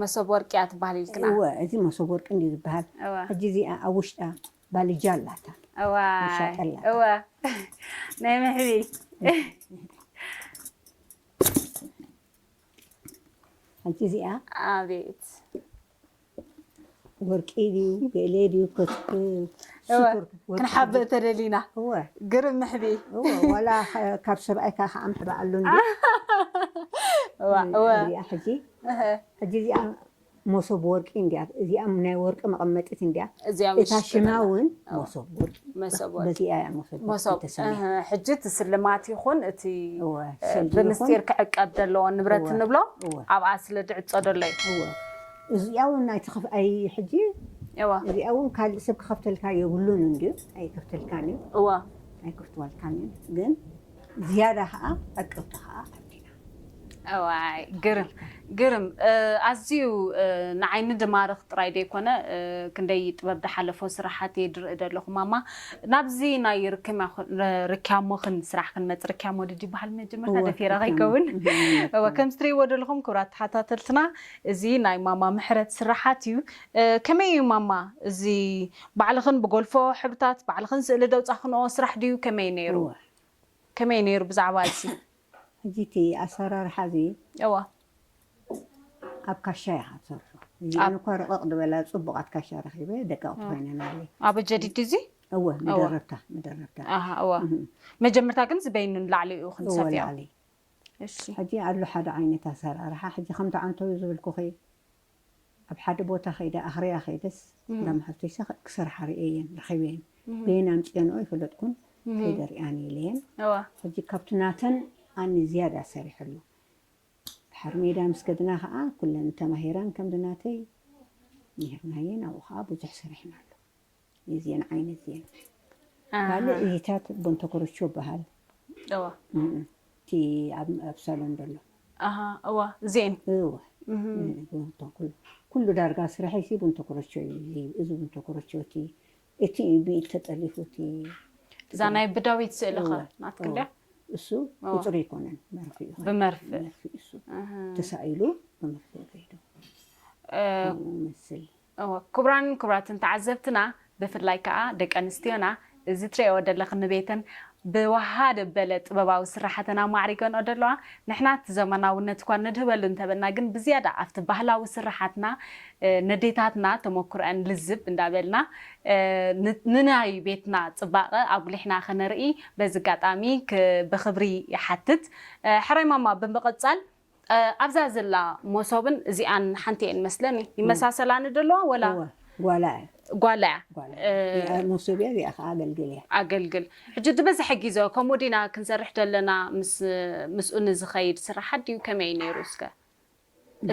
መሶብ ወርቂ እያ ትበሃል ኢልክና እወ እዚ መሶብ ወርቂ እንድዩ ዝበሃል ሕጂ እዚኣ ኣብ ውሽጣ ባልጃ ኣላታ እዋይ እወ ናይ መሕቢ ሓንቲ እዚኣ ኣቤት ወርቂ ድዩ ገለ ድዩ ክንሓብእ ተደሊና ግርም ምሕቢ ዋላ ካብ ሰብኣይካ ከዓ ምሕባእ ኣሎ ሕጂ ሕጂ እዚኣ ሞሶብ ወርቂ እንድያ እዚኣ ናይ ወርቂ መቐመጢት እንድያ እዚኣ እታ ምሽጢ ሽማ ነላ ውን እወ ሞሶብ ወርቂ መሶብ በቃ ወርቂ በዚኣ እያ ሞሶብ ወርቂ ሞሶብ ተሰምያ እህ ሕጂ እቲ ስልማት ይኹን እቲ እወ እ፣ ሰልዲ ይኹን ብምስጢር ክዕቀብ ደለዎ ንብረት እወ እንብሎ እወ ኣብኣ ስለ ድዕጾ ደሎ እዩ እወ እዚኣ ውን ኣይትኸፍ ኣይ ሕጂ እወ እዚኣ ውን ካልእ ሰብ ክኸፍተልካ የብሉን እንድዩ ኣይከፍተልካን እዩ እወ ኣይከፍትዋልካን እዩ ግን ዝያዳ ኸኣ ዕቅብቲ ኸኣ ኣድሊና እዋይ ግርም ግርም ኣዝዩ ንዓይ ንድማርኽ ጥራይ ደይኮነ ክንደይ ጥበብ ድሓለፎ ስራሓት እየ ድርኢ ደለኹ ማማ ናብዚ ናይ ርክያሞኽን ስራሕ ክንመጽ ርክያሞ ድዩ ድበሃል መጀመርታ ደፊረ ከይከውን እወ ከምዚ ትርእይዎ ደለኹም ክብራት ተሓታተልትና እዚ ናይ ማማ ምሕረት ስራሓት እዩ ከመይ እዩ ማማ እዚ ባዕልኽን ብጎልፎ ሕብርታት ባዕልኽን ስእሊ ደውጻኽንኦ ስራሕ ድዩ ከመይ ነይሩ ከመይ ነይሩ ብዛዕባ እዚ ሕጂ እቲ ኣሰራርሓ እዚ እወ ኣብ ካሻ ኢኻ ትሰርሖ እዚ ኣብ- ኣነ እኳ ርቕቕ ዝበላ ጽቡቓት ካሻ ረኺበ ደቀቕቲ ኮይነናለይ ኣብ ጀዲድ እዚ እወ መደረብታ መደረብታ ኣሃ እወ እህ፣ መጀመርታ ግን እዚ በይኑ ንላዕሊ እዩ እወ ክንሰፍዮ ላዕሊ እሺ ሕጂ ኣሎ ሓደ ዓይነት ኣሰራርሓ ሕጂ ከምቲ ዓንተብዩ ዝብልኩኺ ኣብ ሓደ ቦታ ከይደ ኣክርያ ከይደስ እንዳ መሓዙተይ ሰክዕ ክሰርሓ ርእየየን ረኪበየን በየን ኣምጺኤንኦ ኣይፈለጥኩን ከይደ ርኣኒ ኢለየን ሕጂ ካብቲ ናተን ኣኒ ዝያዳ ሰሪሐሉ ድሓር ሜዳ ምስ ከድና ከኣ ኩለን ተማሂረን ከምዚ ናተይ ኔርናየን ኣብኡ ከኣ ብዙሕ ሰሪሕናሉ። የዜን ዓይነት እየን ካልእ እዚታት ቦንተ ኮረቾ ይበሃል እዋ እቲ ኣብ ኣብ ሳሎን ዘሎ ኣሃ እዋ እዚኤን እወ ቦንተ ኩሉ ኩሉ ዳርጋ ስራሐይ ሲ ቦንተ ኮረቾ እዩ እዚ እዚ ቦንተ ኮረቾ እቲ እቲ እዩ ብኢድ ተጠሊፉ እቲ እዛ ናይ ብዳዊት ስእሊ ኸ ናትክን ድያ እሱ ቁፅሪ ኣይኮነን መርፍ እዩ ብመርፍእ መርፍ እዩ እሱ ተሳኢሉ ብመርፍ እዩ ከይዱ እ፣ መስል እወ ክቡራንን ክቡራትን ተዓዘብትና ብፍላይ ከኣ ደቂ ኣንስትዮና እዚ ትሪኤኦ ደለኺ ንቤተን ብወሃደ በለ ጥበባዊ ስራሓተን ኣማዕሪገንኦ ደለዋ ንሕና እቲ ዘመናውነት እኳ ነድህበሉ እንተበልና ግን ብዝያዳ ኣብቲ ባህላዊ ስራሓትና ነዴታትና ተሞክሮኣን ልዝብ እንዳበልና ንናይ ቤትና ጽባቐ ኣጉሊሕና ከነርኢ በዚ ኣጋጣሚ ብኽብሪ ይሓትት ሕራይ ማማ ብምቕጻል ኣብዛ ዘላ ሞሶብን እዚኣን ሓንቲ እየን መስለኒ ይመሳሰላ ንደለዋ ወላ እወ ጓላ እያ ጓላ እያ ጓላ እዚኣ ሞሶብ እያ እዚኣ ከዓ ኣገልግል እያ ኣገልግል ሕጂ ዝበዝሐ ጊዘ ከምኡ ዲና ክንሰርሕ ደለና ምስ ምስኡ ንዝኸይድ ስራሓት ድዩ ከመይ እዩ ነይሩ እስከ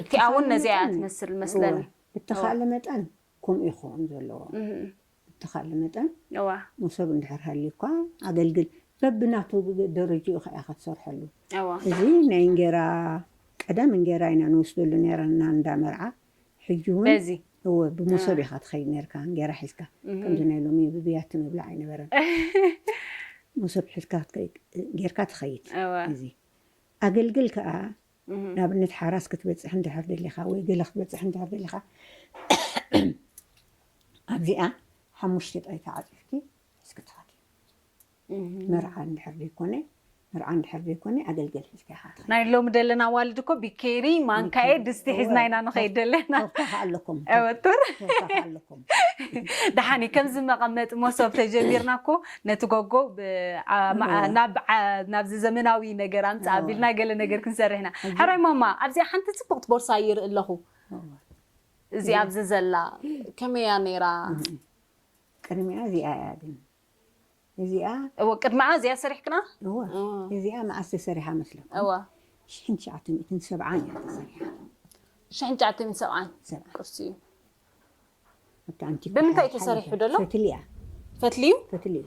እቲኣ እውን ነዚኣ እያ ትመስል መስለኒ ብተኻእለ መጠን ከምኡ እዩ ክኸውን ዘለዎ። ብተኻእለ መጠን እወ ሞሶብ እንድሕር ሃልዩካ ኣገልግል በብናቱ ደረጅኡ ከኣ ኢኻ ትሰርሐሉ እወ እዚ ናይ እንጌራ ቀደም እንጌራ ኢና ንወስደሉ ኔርና እንዳ መርዓ ሕጂ ውን በዚ እወ ብሞሶብ ኢኻ ትኸይድ ኔርካ እንጌራ ሒዝካ ከምዚ ናይ ሎሚ ብብያቲ ምብላዕ ኣይነበረን ሞሶብ ሒዝካ ጌርካ ትኸይድ እወ እዚ ኣገልግል ከኣ ንኣብነት ሓራስ ክትበጽሕ እንድሕር ደሊኻ ወይ ገለ ክትበጽሕ እንድሕር ደሊኻ ኣብዚኣ ሓሙሽተ ጣይታ ዓጺፍኪ ሒዝኪ ትኸዲ። መርዓ እንድሕር ዘይኮነ መርዓ እንድሕር ዘይኮነ ኣገልገል ሒዝካ ኢኻ ትኸዲ። ናይ ሎሚ ደለና ኣዋልድ እኮ ቢኬሪ፣ ማንካኤ፣ ድስቲ ሒዝና ኢና ንኸይድ ደለና። ቶርታ ከ ኣለኩም? ኣወ ቶር ተወሳኺ ኣለኩም ደሓን እዩ ከምዚ መቐመጢ መሶብ ተጀሚርና እኮ ነቲ ጎጎ ናብዚ ዘመናዊ ነገር ኣምፅእ ኣቢልና ገለ ነገር ክንሰርሕ ኢና ሕራይ ማማ ኣብዚኣ ሓንቲ ፅብቕቲ ቦርሳ ይርኢ ኣለኹ እዚኣ ኣብዚ ዘላ ከመይ እያ ነይራ ቅድሚኣ እዚኣ እያ ግን እዚኣ እወ ቅድመዓ እዚኣ ሰሪሕክና እወ እዚኣ መዓስ ተሰሪሓ መስለኩም እወ ሽሕን ትሽዓተ ሚእትን ሰብዓን እያ ተሰሪሓ ሽሕን ትሽዓተ ሚእትን ሰብዓን ሰብዓን ቅርሲ እዩ ኣብቲ ኣንቲክ ብምንታይ እዩ ተሰሪሑ ደሎ ፈትሊ እያ ፈትሊ እዩ ፈትሊ እዩ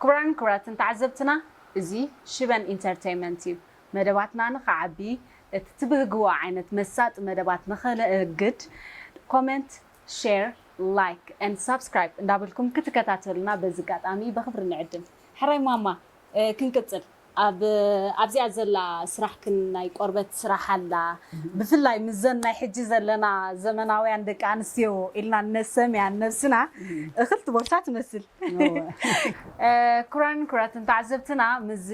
ክቡራንን ክቡራትን ተዓዘብትና እዚ ሽበን ኢንተርተይመንት እዩ። መደባትና ንኽዓቢ እቲ ትብህግዎ ዓይነት መሳጢ መደባት ንኽንእግድ ኮመንት ሼር ላይክ and ሳብስክራይብ እንዳበልኩም ክትከታተሉና በዚ ኣጋጣሚ በኽብሪ ንዕድም። ሕራይ ማማ ክንቅጽል። ኣብ ኣብዚኣ ዘላ ስራሕ ክን ናይ ቆርበት ስራሕ ኣላ ብፍላይ ምዘን ናይ ሕጂ ዘለና ዘመናውያን ደቂ ኣንስትዮ ኢልና እነሰምያ ንነብስና እክልቲ ቦርሳ ትመስል ክራን ክራትን ተዓዘብትና ምዚ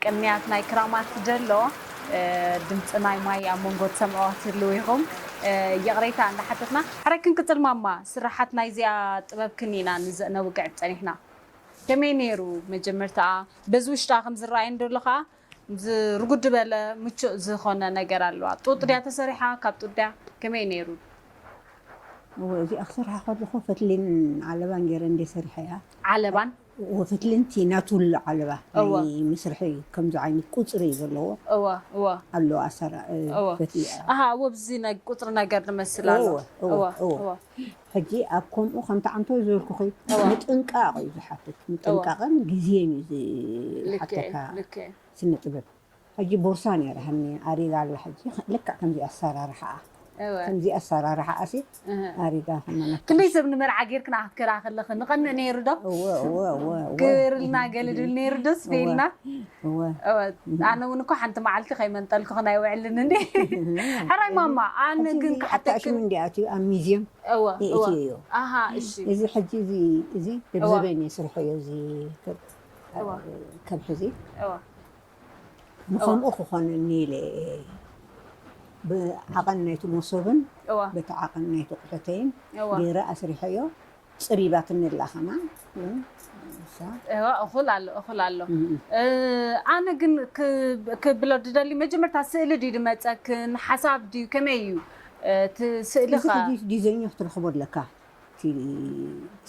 ቅንያት ናይ ክራማት ደሎ ድምጺ ናይ ማይ ኣብ መንጎ ትሰምዕዋ ክትህልው ኢኩም ይቅሬታ እንዳሓተትና ሕራይ ክንቅጽል ማማ ስራሓት ናይዚኣ ጥበብ ክን ኢና ንዘእነውግዕ ጸኒሕና ከመይ ነይሩ መጀመርታኣ በዚ ውሽጣ ከም ዝረኣይ እንደሎ ከኣ ዝ ርጉድ በለ ምቹእ ዝኾነ ነገር ኣለዋ ጡጥ ድያ ተሰሪሓ ካብ ጡጥ ድያ ከመይ ነይሩ? እወ እዚኣ ክሰርሓ ከለኹ ፈትሊን ዓለባን ገይረ እንድየ ሰሪሐያ። ዓለባን? እወ ፈትሊን እቲ ናቱል ዓለባ እወ ናይ መስርሒ ከምዚ ዓይነት ቁጽሪ ዘለዎ እወ እወ ኣሎ ኣሰራ እወ ፈትሊ ኣሃ እወ ብዚ ቁጽሪ ነገር ዝመስል ኣሎ እወ እወ እወ እወ እወ ሕጂ ኣብ ከምኡ ከምቲ ዓንተቦይ ዝበልኩኺ ምጥንቃቕ እዩ ዝሓትት ምጥንቃቕን ግዜን እዩ ዝሓተካ ስነ ጥበብ ሕጂ ቦርሳ ኔራ ሃኒ ኣሪጋ ኣላ ሕጂ ልክዕ ከምዚ ኣሰራርሓኣ ከምዚ ኣሰራርሓኣ ሲ ኣሪጋ ከመና ክንደይ ሰብ ንመርዓ ጌርክና ክትከዳ ከለኺ ንቐንእ ነይሩ ዶ እወ እወ እወ ግበርልና ገለ ድብል ነይሩ ዶስ በይልና እወ እወ፣ ኣነ እውን እኮ ሓንቲ መዓልቲ ከይመንጠልኩኽን ኣይውዕልን እንዴ። ሕራይ ማማ፣ ኣነ ሕጂ ግን እዚ ክሓተኪ ኣታእሽሙ እንዲ ኣትዩ ኣብ ሚዝየም እወ እወ ይእትዩ እዩ ኣሃ እሺ እዚ ሕጂ እዚ እዚ እወ ደብዘበን እዩ ስርሑ እዩ እዚ ከብት እወ ከብሒ እዚ እወ እወ ንከምኡ ክኾነኒ ኢለ እየ ብዓቐን ናይቲ መሶብን እወ በቲ ዓቐን ናይቲ ኣቑሑተይን እወ ገይረ ኣስሪሐዮ ጽቢባትኒ ኣላ ከማን እሳ። እዋ እኹል ኣሎ እኹል ኣሎ እ፣ ኣነ ግን ክ- ክብሎ ድደሊ መጀመርታ ስእሊ ድዩ ድመጸክን ሓሳብ ድዩ ከመይ እዩ እ፣ እቲ ስእሊ እዚ ኸ ዲ- ዲዘይኑ ክትረኽቦ ኣለካ እቲ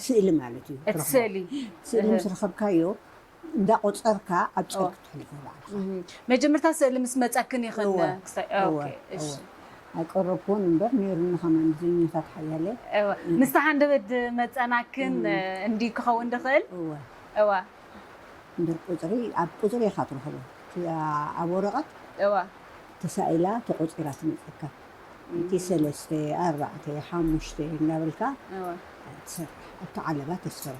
ስእሊ ማለት እዩ እቲ ትረኽቦ። ስእሊ ስእሊ ምስ ረኸብካዮ እንዳ ቆጸርካ ኣብ ጸል ክትሕልፎ ባዕልኻ። መጀመርታ ስእሊ ምስ መጸክን እዩ ከነ እወ ክሳይ እወ ኦኬ እወ እሺ ኣይቀረብኩዎን እምበር ነይሩኒ ከማን ብዘኛታት ሓያለ እወ እ- ምስቲ ሃንደበት ዝመጸናክን እ፣ እንዲ ክኸውን ድኽእል እወ እወ እምበር ቁጽሪ ኣብ ቁጽሪ ኢኻ ትረኽቦ እቲ ኣ- ኣብ ወረቐት እወ ተሳኢላ ተቖጺራ ትመጸካ እቲ ሰለስተ ኣርባዕተ ሓሙሽተ እንዳበልካ እወ ትሰርሕ ኣብቲ ዓለባ ተስርሕ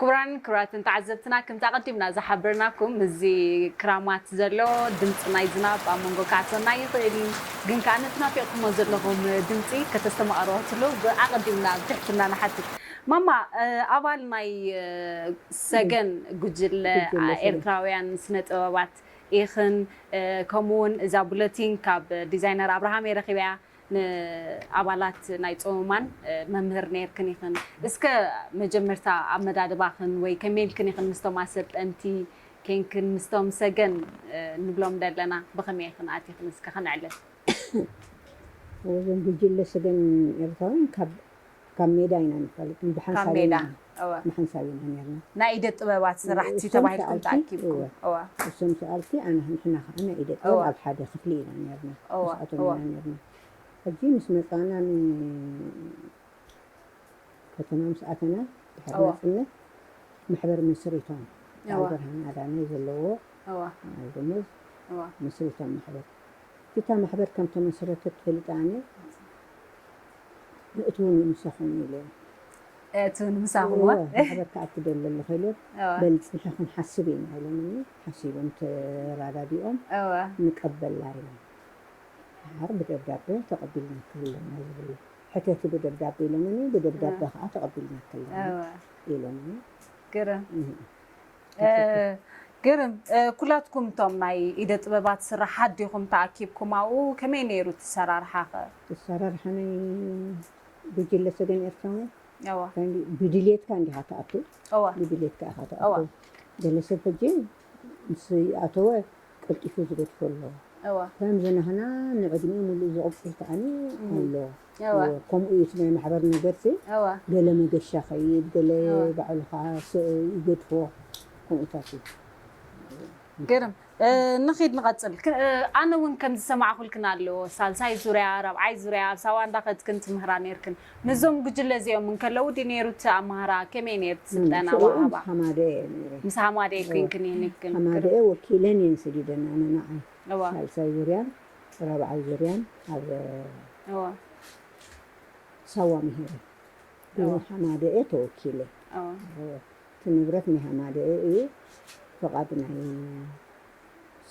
ክቡራን ክብራትን ተዓዘብትና ክምቲ ኣቀዲምና ዝሓበርናኩም እዚ ክራማት ዘሎ ድምፂ ናይ ዝናብ ኣብ መንጎ ክኣትወና ይኽእል እዩ ግን ከኣ ነቲ ናፊቅኩሞ ዘለኹም ድምፂ ከተስተማቅርዋትሉ ብኣቀዲምና ብትሕትና ንሓትት ማማ ኣባል ናይ ሰገን ጉጅለ ኤርትራውያን ስነ ጥበባት ኢኽን ከምኡ ውን እዛ ቡለቲን ካብ ዲዛይነር ኣብርሃም እየ ረኺበያ ንኣባላት ናይ ጾመማን መምህር ነይርክን ኢኽን። እስከ መጀመርታ ኣመዳድባኽን ወይ ከመይ ኢልክን ኢኽን ምስቶም ኣሰልጠንቲ ኴንክን ምስቶም ሰገን ንብሎም ደለና ብኸመይ ኢኽን ኣቲኽን እስከ ከነዕልል። እዞም ጉጅለ ሰገን ኤርትራውያን ካብ ካብ ሜዳ ኢና ንፈልጥ ካብ ሜዳ እወ ንሓንሳብ ኢና ኔርና ናይ ኢደ ጥበባት ስራሕቲ እሶም ተባሂልኩም ሰኣልቲ ተኣኪብኩም እወ እወ እሶም ሰኣልቲ ኣነ ንሕና ከኣ ናይ ኢደ ጥበብ እወ ኣብ ሓደ ክፍሊ ኢና ኔርና እወ ምስኣቶም እወ ኢና ኔርና ሕጂ ምስ መጻና ን ከተማ ምስ ኣተና ድሕሪ እወ ናጽነት ማሕበር መስሪቶም በዓል እወ ብርሃን ኣዳነ ዘለዎ እወ በዓል ደሞዝ እወ መስሪቶም ማሕበር እታ ማሕበር ከም ተመስረተት ፈሊጠ ኣነ እቲ እውን ንምሳኹም እዩ ኢለዮም። እቲ እውን ንምሳኹም እዎ። እዎ ክሕበካ ኣብ ትደሊ ኣለኹ ኢለዮም። እዎ። በል ፅንሒ ክንሓስብ ኢና ኢሎምኒ። ሓሲቦም ተረዳዲኦም እዎ። ንቀበላ ኢሎም። ደሓር ብደብዳበ ተቐቢልናኪ ኣለና ዝብሉ። ሕተቲ ብደብዳበ ኢሎምኒ። ብደብዳበ እዎ። ከዓ ተቐቢልናኪ ኣለና እዎ። ኢሎምኒ። ግርም። እህ። ግርም ኩላትኩም እቶም ናይ ኢደ ጥበባት ስራሓት ዲኹም ተኣኪብኩም ኣብኡ? ከመይ ነይሩ እቲ ኣሰራርሓ ከ? እቲ ኣሰራርሓ ናይ ጉጅለ ሰገን ኤርትራውያን እወ ብድልየትካ እንዲኻ ትኣቱ እወ ብድልየትካ ኢኻ ትኣቱ እወ ገለ ሰብ ሕጂ ምስ ኣተወ ቀልጢፉ ዝገድፎ ኣሎ ከምዚ ናህና ንዕድሚኡ ሙሉእ ዝቕጽል ከኣኒ ኣሎ ከምኡ እዩ እቲ ናይ ማሕበር ነገርሲ ገለ መገሻ ከይድ ገለ ባዕሉ ከዓ ይገድፎ ከምኡታት እዩ ግርም ንኺድ ንቐጽል ኣነ እውን ከም ዝሰማዕኩልክን ኣለዎ ሳልሳይ ዙርያ ራብዓይ ዙርያ ኣብ ሳዋ እንዳኸድክን ትምህራ ነርክን ምስዞም ጉጅለ እዚኦም እንከለዉ ድዩ ነይሩ እቲ ኣማህራ? ከመይ ነይሩ እቲ ስልጠና ምስኦም ምስ ኣወሃህባ? ሃማደኤ እየ ነይረ። ምስ ሃማደኤ እወ፣ ኮይንክን እየን እብ ክን ክር ሃማደኤ ወኪለን እየን ሰዲደን ኣነ ንዓይ እወ ሳልሳይ ዙርያን ራብዓይ ዙርያን ኣብ እወ ሳዋ ምሂረ እወ ብሃማደኤ ተወኪለ እወ እወ እቲ ንብረት ናይ ሃማደኤ እዩ ፍቓድ ናይ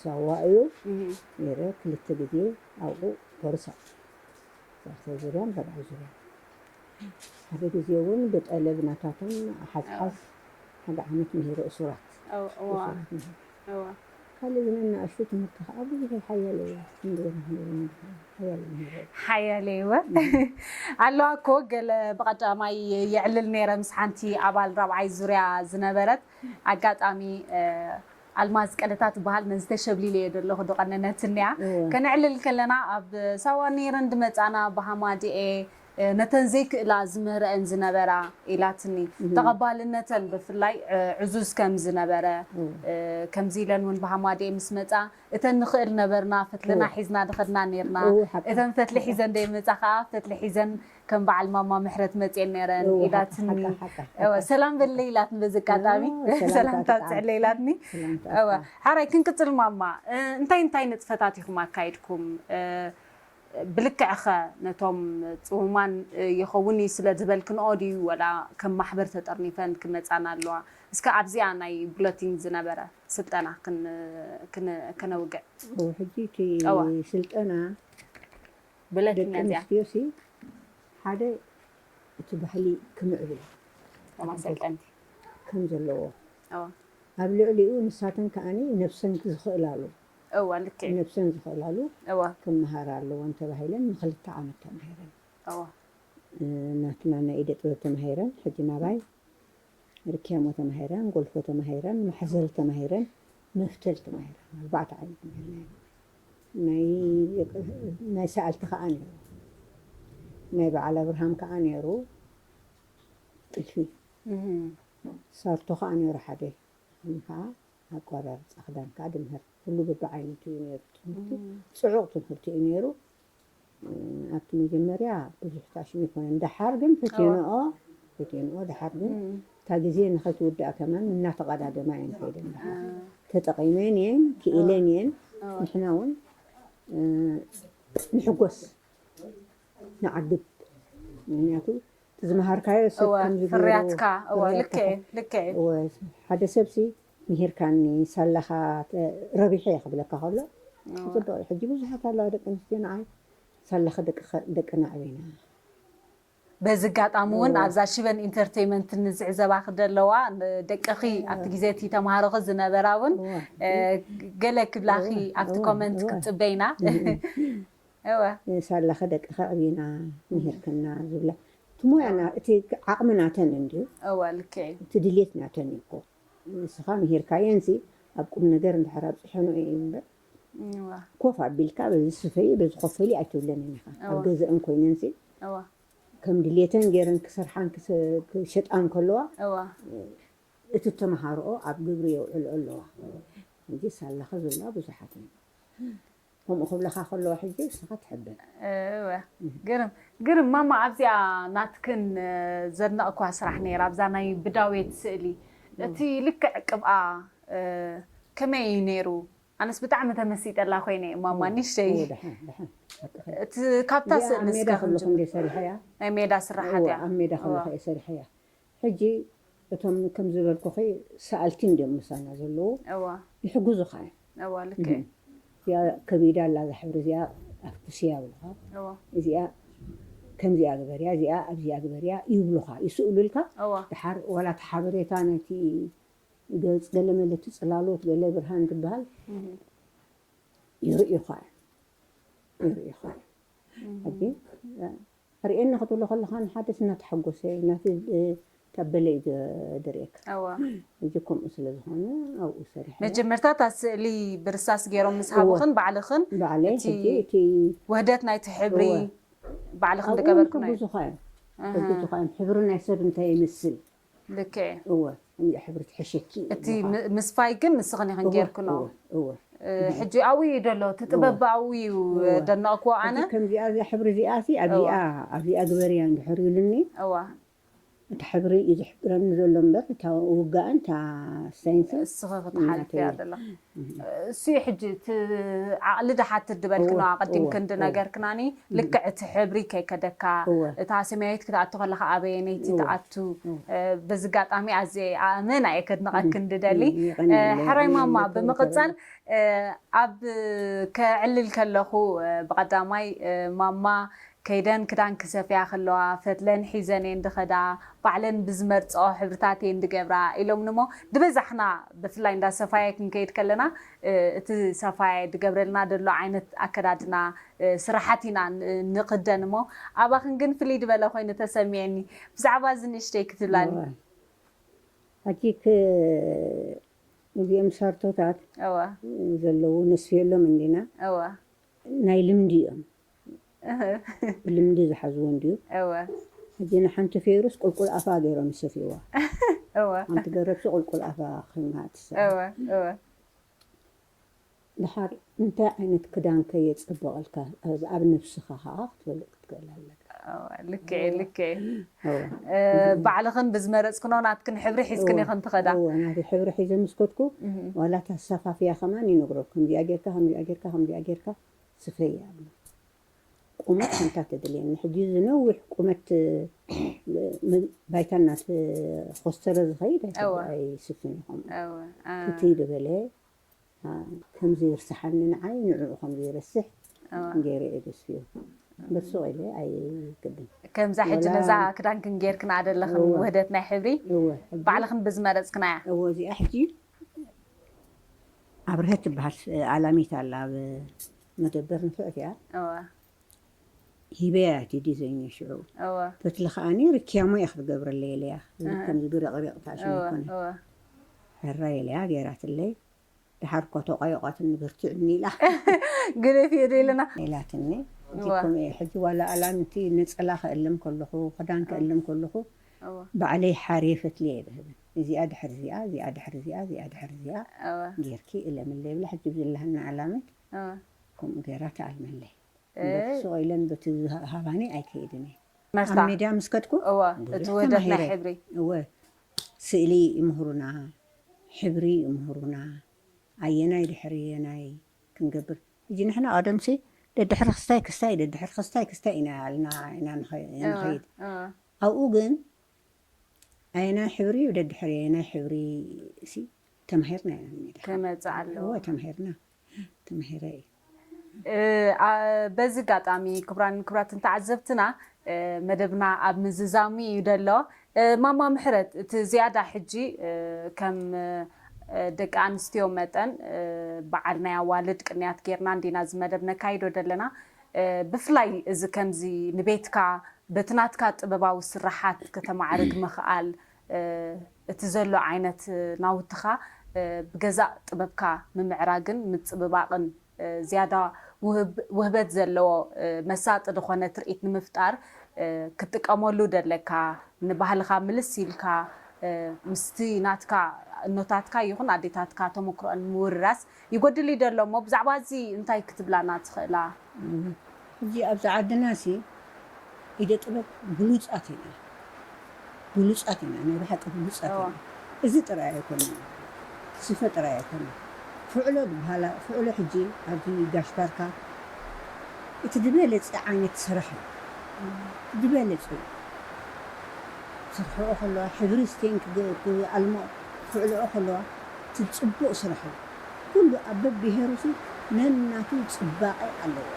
ሳዋ እዩ እህ ነይረ ክልተ ግዜ ኣብኡ ኮርሳ ዛርተ ዙርያን ራብዓይ ዙርያን ሓደ ግዜ እውን ብጠለብ ናታቶም ሓዝሓዝ ሓደ ዓመት ምሂሩ እሱራት ካልእ ግን እናእሽቱ ትምህርቲ ከዓ ብዙሕ ሓያለ እየ ሓያለ ምሂሩ ሓያለ እወ ኣለዋ እኮ ገለ ብቐዳማይ የዕልል ነይረ ምስ ሓንቲ ኣባል ራብዓይ ዙርያ ዝነበረት ኣጋጣሚ ኣልማዝ ቀደታ ትበሃል ነዚ ተሸብሊለዮ ደለኹ ድቐነነትኒያ ከነዕልል ከለና ኣብ ሳዋ ነይረን ድመጻና ብሃማድኤ ነተን ዘይክእላ ዝምህረኤን ዝነበራ ኢላትኒ ተቐባልነተን ብፍላይ ዕዙዝ ከም ዝነበረ ከምዚ ኢለን ውን ብሃማድኤ ምስ መጻ እተን ንኽእል ነበርና ፈትልና ሒዝና ድኸድና ነይርና እተን ፈትሊ ሒዘን ደይመጻ ከኣ ፈትሊ ሒዘን ከም በዓል ማማ ምሕረት መፅየን ነይረን እወ፣ ሓቂ፣ ኢላትኒ ሓቂ፣ ሓቂ፣ ሓቂ፣ እወ ሓቂ፣ ሰላም ሓቂ። በለይ ኢላትኒ በዚ ኣጋጣሚ እወ፣ ሰላምታ ሰላምታ ኣስዓብ። ኣስዕለይ ኢላትኒ ሰላምታ እወ ኣስዓብ። ሓራይ ክንቅፅል ማማ እ፣ እንታይ እንታይ ንጥፈታት ኢኹም ኣካይድኩም እ፣ ብልክዕ ኸ ነቶም ፅሙማን እ፣ ይኸውን እዩ ስለ ዝበልክንኦ ድዩ ወላ ከም ማሕበር ተጠርኒፈን ክመፃና ኣለዋ እስከ ኣብዚኣ ናይ ቡለቲን ዝነበረ ስልጠና ክን ክን ከነውግዕ እወ፣ ሕጂ እቲ እወ ስልጠና ደቂ ኣንስትዮሲ ሓደ እቲ ባህሊ ክምዕብል ከም ዘለዎ ኣብ ልዕሊኡ ንሳተን ከኣ ነብሰን ዝኽእላሉ ነብሰን ዝኽእላሉ ክመሃራ ኣለወን ተባሂለን ንኽልተ ዓመት ተማሂረን ናትና ናይ ኢደ ጥበብ ተማሂረን ሕጂ ናባይ ርክያሞ ተማሂረን፣ ጎልፎ ተማሂረን፣ ማሕዘል ተማሂረን፣ መፍተል ተማሂረን፣ ኣርባዕተ ዓይነት ማሂርና ኢና። ናይ ናይ ሰኣልቲ ከኣ ነይሩ። ናይ በዓል ኣብርሃም ከኣ ነይሩ ጥልፊ። ሳርቶ ከኣ ነይሩ ሓደ። ከም ከኣ ኣቆራርጻ ክዳን ከኣ ድምህር። ኩሉ በብዓይነቱ እዩ ነይሩ ትምህርቲ። ጽዑቕ ትምህርቲ እዩ ነይሩ። ኣብቲ መጀመርያ ብዙሕ ፋሽን ኣይኮነን ደሓር ግን ፈትየንኦ ፈትየንኦ ደሓር ግን እታ ግዜ ንኸትውዳእ ከማን እናተቐዳደማ እየን ከይደን ተጠቒመን እየን ክኢለን እየን ንሕና እውን ንሕጎስ ንዓግብ ምክንያቱ ዝመሃርካዮ ሰብ ፍርያትካ ሓደ ሰብሲ ምሂርካኒ ሳላኻ ረቢሐ እየ ክብለካ ከሎ ጽቡቅ እዩ ሕጂ ብዙሓት ኣለዋ ደቂ ኣንስትዮ ንዓይ ሳላኺ ደቅና ኣዕቢና በዚ ኣጋጣሚ እውን ኣብዛ ሽበን ኢንተርቴይመንት ንዝዕዘባኺ ዘለዋ ደቅኺ ኣብቲ ግዜ እቲ ተምሃሮኺ ዝነበራ እውን ገለ ክብላኺ ኣብቲ ኮመንት ክትፅበይና እወ ሳላኺ ደቅኺ ኣዕቢና ምሂርክና ዝብላ እቲ ሞያ እቲ ዓቕሚ ናተን እንድዩ እወ ልክዕ እዩ እቲ ድሌት ናተን እዩ እኮ ንስኻ ምሂርካየንሲ ኣብ ቁምነገር እንድሕር ኣብጺሐንኦ ኢዩ እምበር ኮፍ ኣቢልካ በዚ ስፈዪ በዚ ኮፈሊ ኣይትብለንን ኢኻ። ኣብ ገዘእን ኮይነንሲ ከም ድሌተን ገይረን ክሰርሓን ክሸጣን ከለዋ እቲ እተመሃርኦ ኣብ ግብሪ የውዕልኦ ኣለዋ። ሕጂ ሳላኺ ዝብላ ብዙሓት ኢየን። ከምኡ ክብለኻ ከለዎ ሕጂ ንስኻ ትሕብን። እወ ግርም ግርም ማማ ኣብዚኣ ናትክን ዘድነቕክዋ ስራሕ ነይራ ኣብዛ ናይ ብዳዌት ስእሊ እቲ ልክዕ ቅብኣ ከመይ እዩ ነይሩ ኣነስ ብጣዕሚ ተመሲጠላ ኮይነ እየ ማማ ንሽተይ እቲ ካብታ ስእሊ እስከ ክንጅምር ናይ ሜዳ ስራሓት እያ ኣብ ሜዳ ከለኹ እየ ሰሪሐያ ሕጂ እቶም ከም ዝበልኩኺ ሰኣልቲ እንድዮም ምሳና ዘለዉ እወ ይሕግዙኻ እዮም እወ ልክዕ እዩ እዚኣ ከቢዳ ኣላ እዛ ሕብሪ እዚኣ ኣፍኩስያ ይብሉኻ እወ እዚኣ ከምዚኣ ግበርያ እዚኣ ኣብዚኣ ግበርያ ይብሉኻ ይስእሉልካ እወ ደሓር ዋላ እቲ ሓበሬታ ናይቲ ገጽ ገለመለ እቲ ጽላሎት ገለ ብርሃን ትበሃል ይርእዩኻ እዮም ይርእዩኻ እዮም ሕጂ ኣርእየኒ ክትብሎ ከለካ ንሓድሽ እናተሓጎሰ ናተይ ተበለ እዩ ዝርእየካ እወ ሕጂ ከምኡ ስለ ዝኮነ ኣብኡ ሰሪሐ መጀመርታ እታ ስእሊ ብርሳስ ጌሮም ምስ ሃቡክን ባዕልክን ባዕለይ እቲ ሕጂ እቲ ውህደት ናይቲ ሕብሪ እወ ባዕልክን ኣብኡ ውን ዝገበርክናዮ ክሕግዙካ እዮም ክሕግዙካ እዮም ሕብሪ ናይ ሰብ እንታይ ይመስል ልክዕ እዩ እወ እንድያ ሕብሪ ትሕሽኪ እቲ ም- ምስፋይ ግን ንስኽን ኢኽን ጌርክኖ እወ እወ ሕጂ ኣብኡ እዩ ደሎ እቲ ጥበብ ብኣብኡ እዩ እወ። ደነቕክዎ እቲ ኣነ ከምዚኣ እዛ ሕብሪ እዚኣሲ ኣብዚኣ ኣብዚኣ ግበርያ እንድሕር ኢሉኒ እወ እቲ ሕብሪ እዩ ዝሕብረኒ ዘሎ እምበር እታ ውጋእን እታ ሳይንስን እስኺ ክትሓልፍያ እናተይ ደለኹ እሱ እዩ ሕጂ እቲ ዓቕሊ ድሓ ትድበልኪ እወ ነዋ እወ ኣቐዲምኪ እንድ እወ ነገርክናኒ እም ልክዕ እቲ ሕብሪ ከይከደካ እወ እታ ሰማያዊት ክትኣቱ ከለኻ ኣበየነይቲ እወ ትኣቱ እወ እ በዚ ኣጋጣሚ ኣዝየ ኣእመና እየ እም ከድንቐኪ እንድደሊ እም እ የቐንየለይ ሕራይ ኣነ ማማ ነቶም ብምቕጻል ተበለ እ ኣብ ከዕልል ከለኹ እ ብቐዳማይ እ ማማ ከይደን ክዳን ክሰፍያ ከለዋ ፈትለን ሒዘን እየን ድኸዳ፣ ባዕለን ብዝመርጸኦ ሕብርታት እየን ድገብራ ኢሎምኒ'ሞ ድበዛሕና ብፍላይ እንዳ ሰፋዬ ክንከይድ ከለና እቲ ሰፋዬ ድገብረልና ደሎ ዓይነት ኣከዳድና ስራሓት ኢና ንኽደን እሞ ኣባኽን ግን ፍልይ ድበለ ኮይኑ ተሰሚዕኒ ብዛዕባ እዚ ንእሽተይ ክትብላኒ። እወ ሐጂ ክ እዚኦም ሻርቶታት እወ ዘለዉ ነስፍየሎም እንዲና እወ። ናይ ልምዲ እዮም ብልምዲ ዝሓዝዎ እንድዩ እወ ሕጂ ንሓንቲ ፌሩስ ቁልቁል ኣፋ ገይሮም ይሰትይዋ እወ ሓንቲ ገረብሲ ቁልቁል ኣፋ ኮይና ትሰቲ እወ እወ ድሓር እንታይ ዓይነት ክዳን ከ የጸብቐልካ ኣብ ኣብ ነብስኻ ከኣ ክትፈልጥ ክትክእል ኣለካ እወ ልክዕ እዩ ልክዕ እዩ እወ እ፣ ባዕልኽን ብዝመረጽክኖ ናትክን ሕብሪ ሒዝክን ኢኽን ትኸዳ እወ ናተይ ሕብሪ ሒዘ ምስ ከድኩ ዋላ እታ ኣሰፋፍያ ከማን ይነግሮ ከምዚኣ ጌርካ ከምዚኣ ጌርካ ከምዚኣ ጌርካ ስፈይ ኣሎ ቁመት ሓንታ ተድልየኒ ሕጂ እዚ ነዊሕ ቁመት ባይታና ኮስተረ ዝኸይድ ኣይስፍን ይኹም ፍትይ ዝበለ ከምዚ ይርሳሓኒ ንዓይ ንዕኡ ከምዚ ይርስሕ ገይረ እየ ደስፍዮ ብርሱቕ ኢለ ኣይክድን ከምዛ ሕጂ ነዛ ክዳንክን ጌርክን ኣደለኽን ውህደት ናይ ሕብሪ ባዕልኽን ብዝመረፅክናያ እወ እዚኣ ሕጂ ኣብርሀት ትበሃል ኣላሚት ኣላ ኣብ መደበር ንፍዕት እያ እወ ሂበያ እቲ ዲዘይን ሽዑ እወ ፈትሊ ከዓኒ ርክያሞ እያ ክትገብረለይ ኢለያ እዚ እወ። ከምዚ ብረቕሪቕታ እወ ሽኮነ እወ ሕራይ ኢለያ ገይራትለይ ድሓር እኳ ተቋይቋትኒ በርትዕኒ ኢላ ግደፊ እደ ኢለና ኢላትኒ እዚ እወ ከምኡ እየ ሕጂ ዋላ ኣላምቲ ነፀላ ከእልም ከለኹ ክዳን እወ ከእልም ከለኹ እወ ባዕለይ ሓርየ ፈትሊ እየ ዝህበን እዚኣ ድሕሪ እዚኣ፣ እዚኣ ድሕሪ እዚኣ፣ እዚኣ ድሕሪ እዚኣ እወ ጌርኪ እለምለይ ብላ ሕጂ ብዝላሃና ኣላምት እወ ከምኡ ጌራ ትኣልመለይ። እምበር እይ ስቕ ኢለን በቲ ዝሃባኒ ኣይከይድን እየ። ኣብ መርሳ ሚድያ ምስ ከድኩ እወ እቲ ብዙሕ ውህደት ናይ ተማሂረ። ሕብሪ እወ ስእሊ ይምህሩና፣ ሕብሪ ይምህሩና፣ ኣየናይ ድሕሪ ኣየናይ ክንገብር ሕጂ ንሕና ቀደምሲ ደድሕሪ ክስታይ ክስታይ ደድሕሪ ክስታይ ክስታይ ኢና ኢልና ኢና ንኸ እወ ንኸይድ። እወ ኣብኡ ግን ኣየናይ ሕብሪ እዩ ደድሕሪ ኣየናይ ሕብሪ ሲ ተማሂርና ኢና ሜዳ ክመጽእ ኣለዎ። እወ ተማሂርና ተማሂረ እዩ እ፣ ኣ- በዚ ኣጋጣሚ ክቡራን ክቡራትን ተዓዘብትና እ፣ መደብና ኣብ ምዝዛሙ እዩ ደሎ እ፣ ማማ ምሕረት እቲ ዝያዳ ሕጂ እ፣ ከም እ፣ ደቂ ኣንስትዮ መጠን እ፣ በዓል ናይ ኣዋልድ ቅንያት ጌርና እንዲና እዚ መደብ ነካይዶ ደለና ብፍላይ እዚ ከምዚ ንቤትካ በቲ ናትካ ጥበባዊ ስርሓት ከተማዕርግ ምኽኣል፣ እቲ ዘሎ ዓይነት ናውትኻ ብገዛእ ጥበብካ ምምዕራግን ምጽብባቕን ዝያዳ ውህበት ዘለዎ መሳጢ ዝኾነ ትርኢት ንምፍጣር ክትጥቀመሉ ደለካ ንባህልኻ ምልስ ኢልካ ምስቲ ናትካ እኖታትካ ይኹን ኣዴታትካ ተሞክሮኣን ምውርራስ ይጎድል ኢዩ ደሎ እሞ ብዛዕባ እዚ እንታይ ክትብላና ትኽእላ? ሕጂ ኣብዚ ዓድና ሲ ኢደ ጥበብ ብሉጻት ኢና ብሉጻት ኢና ናይ ብሓቂ ብሉጻት ኢና እዚ ጥራይ ኣይኮነን ስፈ ጥራይ ኣይኮነን ፍዕሎ ድብሃላ ፍዕሎ ሕጂ ኣብዚ ጋሽ ባርካ እቲ ድበለጸ ዓይነት ስራሕ ኢዩ ድበለጸ ኢዩ ክስርሕኦ ከለዋ ሕብሪ ስቴን ክኣልምኦ ክክዕልኦ ከለዋ እቲ ጽቡቅ ስራሕ እዩ ኩሉ ኣብ በብሄሩ ሲ ነናቱ ጽባቀ ኣለዎ።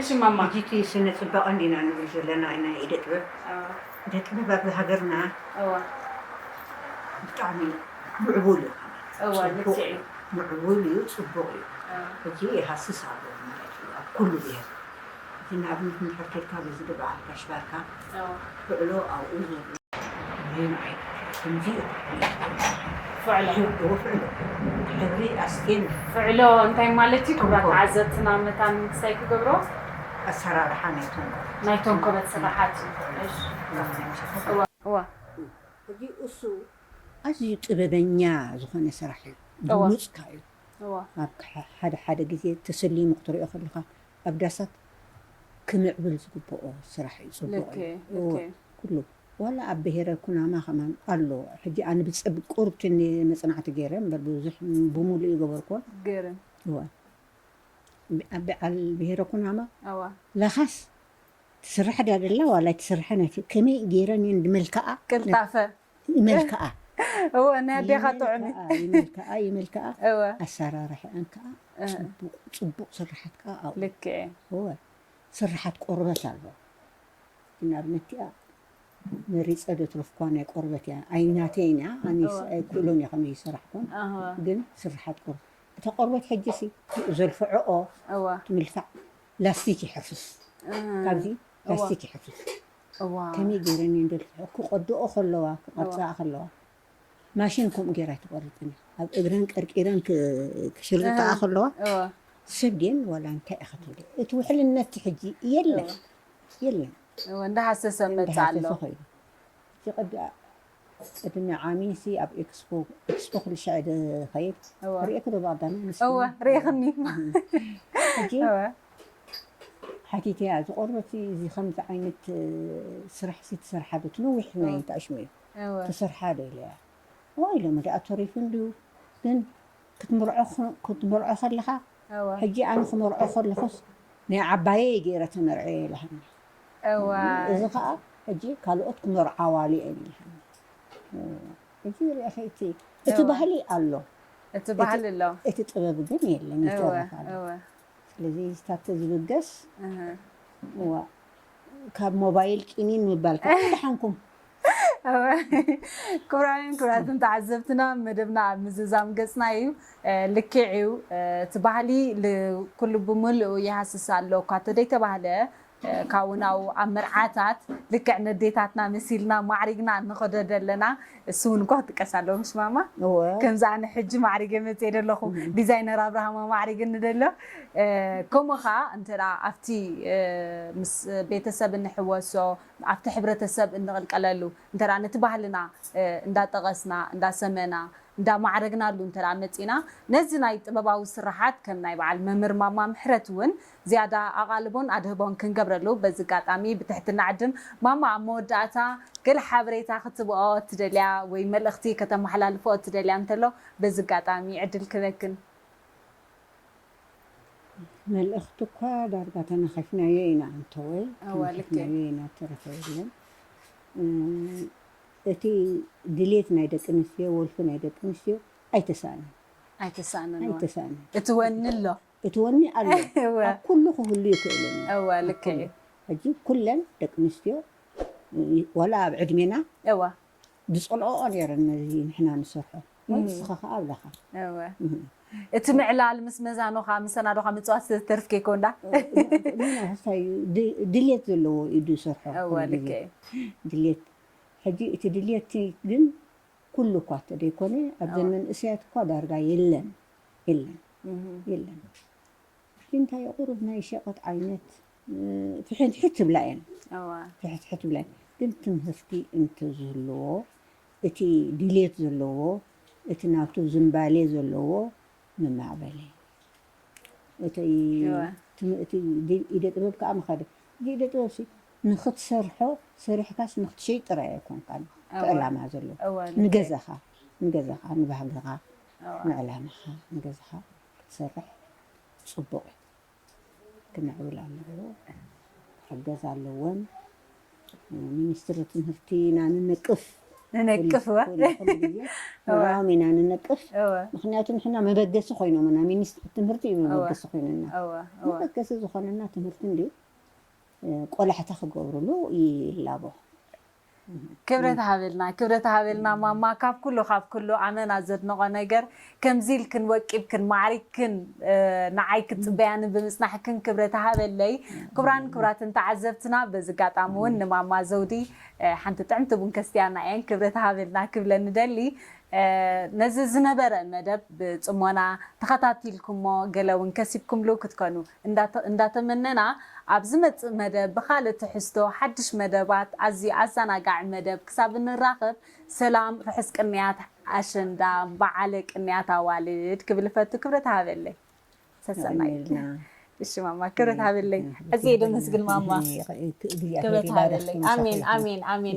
እሺ ማማ። ጂጂ ስነ ፅባቀ እንዲና ንብል ዘለና ናይ ኢደ ጥበብ። ደጥበብ ኣብ ሃገርና ብጣዕሚ ምዕቡል እዩ ምዕቡል እዩ ፅቡቅ እዩ ሕጂ ይሃስስ ኣሎ ማለት እዩ ኣብ ኩሉ ብሄር እቲ ንኣብነት እንድሕር ኬድካ በዚ ብበዓል ጋሽ ባርካ ትክዕሎ ኣብኡ ዘሎ ግን ከምዚ እዩ ፍዕሎ ፍዕሎ ሕብሪ ኣስቴን ፍዕሎ እንታይ ማለት እዩ ክብራት ተዓዘብትና መታን ምክሳይ ክገብሮ ኣሰራርሓ ናይቶም ኮበት ስራሓት እዩ። ኣዝዩ ጥበበኛ ዝኾነ ስራሕ እዩ ብሉጽ ከኣ እዩ ኣብ ሓደ ሓደ ግዜ ተሰሊሙ ክትሪኦ ከለኻ ኣብ ዳሳት ክምዕብል ዝግብኦ ስራሕ እዩ ጽቡቕ እዩ እወ ኩሉ ዋላ ኣብ ብሄረ ኩናማ ከማን ኣሎ ሕጂ ኣነ ብጸብቁርቲ መጽናዕቲ ገይረ እምበር ብዙሕ ብሙሉኡ እይገበርኩዎን እወ ብዓል ብሄረ ኩናማ እወ ለኻስ ትስራሕ ድያ ዘላ ዋላ ኣይትስራሕን ኣይፍ ከመይ ገይረን እየን ድመልክዓ ቅልጣፈ ይመልክዓ እወ ናይ ኣዴኻ ጥዑም እዩ ይመልክዓ ይመልክዓ ይመልክዓ እወ ኣሰራርሐኣን ከዓ እ ፅቡቅ ፅቡቅ ስራሓት ከዓ ኣብኡ ልክዕ እዩ እወ ስራሓት ቆርበት ኣሎ ንኣብነት እቲኣ መሪፀ ዘትረፍክዋ ናይ ቆርበት እያ ኣይናተይን እያ ኣነ እወ ኣይክእሎን እየ ከመይ ይስራሕ ኮን ኣህወ ግን ስራሓት ቆርበት እታ ቆርበት ሕጂሲ ዘርፍዖኦ እወ ትምልሳዕ ላስቲክ ይሕፍስ ካብዚ እወ ላስቲክ ይሕፍስ እዋ ከመይ ገይረ እኔ እንደርፍዖ ክቆድኦ ከለዋ እወ ክቆርጽኣ ከለዋ ማሽን ከምኡ ገይራ ኣይትቆርጽን እያ ኣብ እግረን ቀርቂረን ክ- ክሽርጥኣ እህ ከለዋ እወ ሰብ ድየን ዋላ እንታይ እያ ክትብል እቲ ውሕልነት ሕጂ እወ የለን የለን እወ እንዳሃሰሰ መጽእ ኣሎ እንዳሃሰሰ ኸይዱ እቲ ቀዲኣ ቅድሚ ዓሚ ሲ ኣብ ኤክስፖ ኤክስፖ ኩሉ ሻዕ ድኸይድ ሪኤኪ ዶ ብቀዳም እወ ሪኤክኒ ሕጂ ሓቲተያ እዚ ቆርበት እዚ ከምዚ ዓይነት ስራሕ ሲ ትሰርሓ ዶ ትነዊሕ ናይ ተዕሽሙ እዩ ትሰርሓ ዶ ኢለያ እወ ኢሎሞ ደኣ ተሪፉ እንድዩ ግን ክትምርዖ ከለኻ ሕጂ ኣነ ክመርዖ ከለኹስ ናይ ዓባየይ ገይረ ተመርዕየ ኢላትኒ እዚ ከኣ ሕጂ ካልኦት ክመርዓዋሉ እየን ኢላትኒ ሕጂ ርኢኺ እቲ እቲ ባህሊ ኣሎ እቲ ባህሊ ኣሎ እቲ ጥበብ ግን የለን ይተርፍ ኣሎ። ስለዚ ስታፍ ተዝብገስ እዋእ ካብ ሞባይል ቂኒን ምባል ከ ደሓንኩም ክብራውያን ክብራትን ተዓዘብትና መደብና ኣብ ምዝዛም ገፅና እዩ ልክዕ እዩ እቲ ባህሊ ኩሉ ብምልኡ ይሃስስ ኣሎ እኳ ተደይተባህለ ካብኡ ናብኡ ኣብ መርዓታት ልክዕ ነዴታትና መሲልና ማዕሪግና ንኸዶ ደለና እሱ ውን እኳ ክጥቀስ ኣለዎ ምሽ ማማ እወ ከምዚ ኣነ ሕጂ ማዕሪገ መጽየ ደለኹ ዲዛይነር ኣብርሃም ኣማዕሪግኒ ደሎ ከምኡ ኸኣ እንተ ኣብቲ ምስ ቤተሰብ እንሕወሶ ኣብቲ ሕብረተሰብ እንቕልቀለሉ እንተ ነቲ ባህልና እንዳጠቐስና እንዳሰመና እንዳማዕረግናሉ እንተ መጺና ነዚ ናይ ጥበባዊ ስርሓት ከም ናይ በዓል መምር ማማ ምሕረት ውን ዝያዳ ኣቓልቦን ኣድህቦን ክንገብረሉ በዚ ኣጋጣሚ ብትሕትና ዕድም። ማማ ኣብ መወዳእታ ገለ ሓበሬታ ክትብኦ እትደልያ ወይ መልእኽቲ ከተመሓላልፎ እትደልያ እንተሎ በዚ ኣጋጣሚ ዕድል ክበክን። መልእኽቲ እኳ ዳርጋ ተናኺፍናዮ ኢና ኣንተወይ እወ ልክ እዩ። ተናኺፍናዮ ኢና እተረፈ የለን። እቲ ድሌት ናይ ደቂ ኣንስትዮ ወልፊ ናይ ደቂ ኣንስትዮ ኣይተሳእነን። ኣይተሳእነን እወ። ኣይተሳእነን። እቲ ወኒ ኣሎ። እቲ ወኒ ኣሎ ኣብ ኩሉ ክህሉ ይክእልን እዩ ሕጂ ኩለን ደቂ ኣንስትዮ ዋላ ኣብ ዕድሜና ዝጸልኦኦ ነይረን ነዚ ንሕና ንሰርሖ ንስኻ ከኣ ኣለኻ እቲ ምዕላል ምስ መዛኖኻ ምሰናዶኻ ምጽዋት ዝተርፍ ከይኮንዳ ድልየት ዘለዎ ኢዩ ዝሰርሖ ድልየት ሕጂ እቲ ድልየት ግን ኩሉ እኳ እተደይኮነ ኣብዘን መንእሰያት እኳ ዳርጋ የለን የለን የለን እቲ እንታይ እዩ ቁሩብ ናይ ሸቀጥ ዓይነት ፍሕትሕት ትብላ እየን ፍሕትሕት ትብላ እየን ግን ትምህርቲ እንተዝህልዎ እቲ ድሌት ዘለዎ እቲ ናቱ ዝምባሌ ዘለዎ ምማዕበለ እቲ ኢደ ጥበብ ከዓ ምኸደ እዚ ኢደ ጥበብ ንኽትሰርሖ ሰሪሕካስ ንኽትሸይጥ ጥራይ ኣይኮንካን እቲ ዕላማ ዘሎ ንገዛኻ ንገዛኻ ንባህግኻ ንዕላማኻ ንገዛኻ ክትሰርሕ ጽቡቕ እዩ ክምዕብል ኣለዎ ክሕገዝ ኣለዎን ሚኒስትሪ ትምህርቲ ኢና ንነቅፍ ንነቅፍ እዋ ንዕኦም ኢና ንነቅፍ ምክንያቱ ንሕና መበገሲ ኮይኖምና ሚኒስትሪ ትምህርቲ እዩ መበገሲ ኮይኑና መበገሲ ዝኾነና ትምህርቲ እንድዩ ቆላሕታ ክገብሩሉ ይላቦ። ክብረት ሃበልና ክብረት ሃበልና ማማ ካብ ኩሉ ካብ ኩሉ ኣመና ዘድንቆ ነገር ከምዚ ኢልክን ወቂብክን ማዕሪግክን ንዓይ ክትጽበያኒ ብምጽናሕክን ክብረት ሃበለይ ክብራን ክብራትን ተዓዘብትና በዚ ጋጣሚ ውን ንማማ ዘውዲ ሓንቲ ጥዕምቲ ቡን ከስትያና እየን ክብረት ሃበልና ክብለን እደሊ ነዚ ዝነበረ መደብ ብጽሞና ተኸታቲልኩሞ ገለ ውን ከሲብኩምሉ ክትኮኑ እንዳተመነና ኣብ ዝመጽእ መደብ ብኻልእ ትሕዝቶ ሓድሽ መደባት ኣዝዩ ኣዛናጋዒ መደብ ክሳብ እንራኸብ ሰላም ርሑስ ቅንያት ኣሸንዳ በዓለ ቅንያት ኣዋልድ ክብል እፈቱ ክብረት ሃበለይ ሰሰናዩ እሺ ማማ ክብረት ሃበለይ ኣዝየ ደመስግን ማማ ክብረት ሃበለይ ኣሜን ኣሜን ኣሜን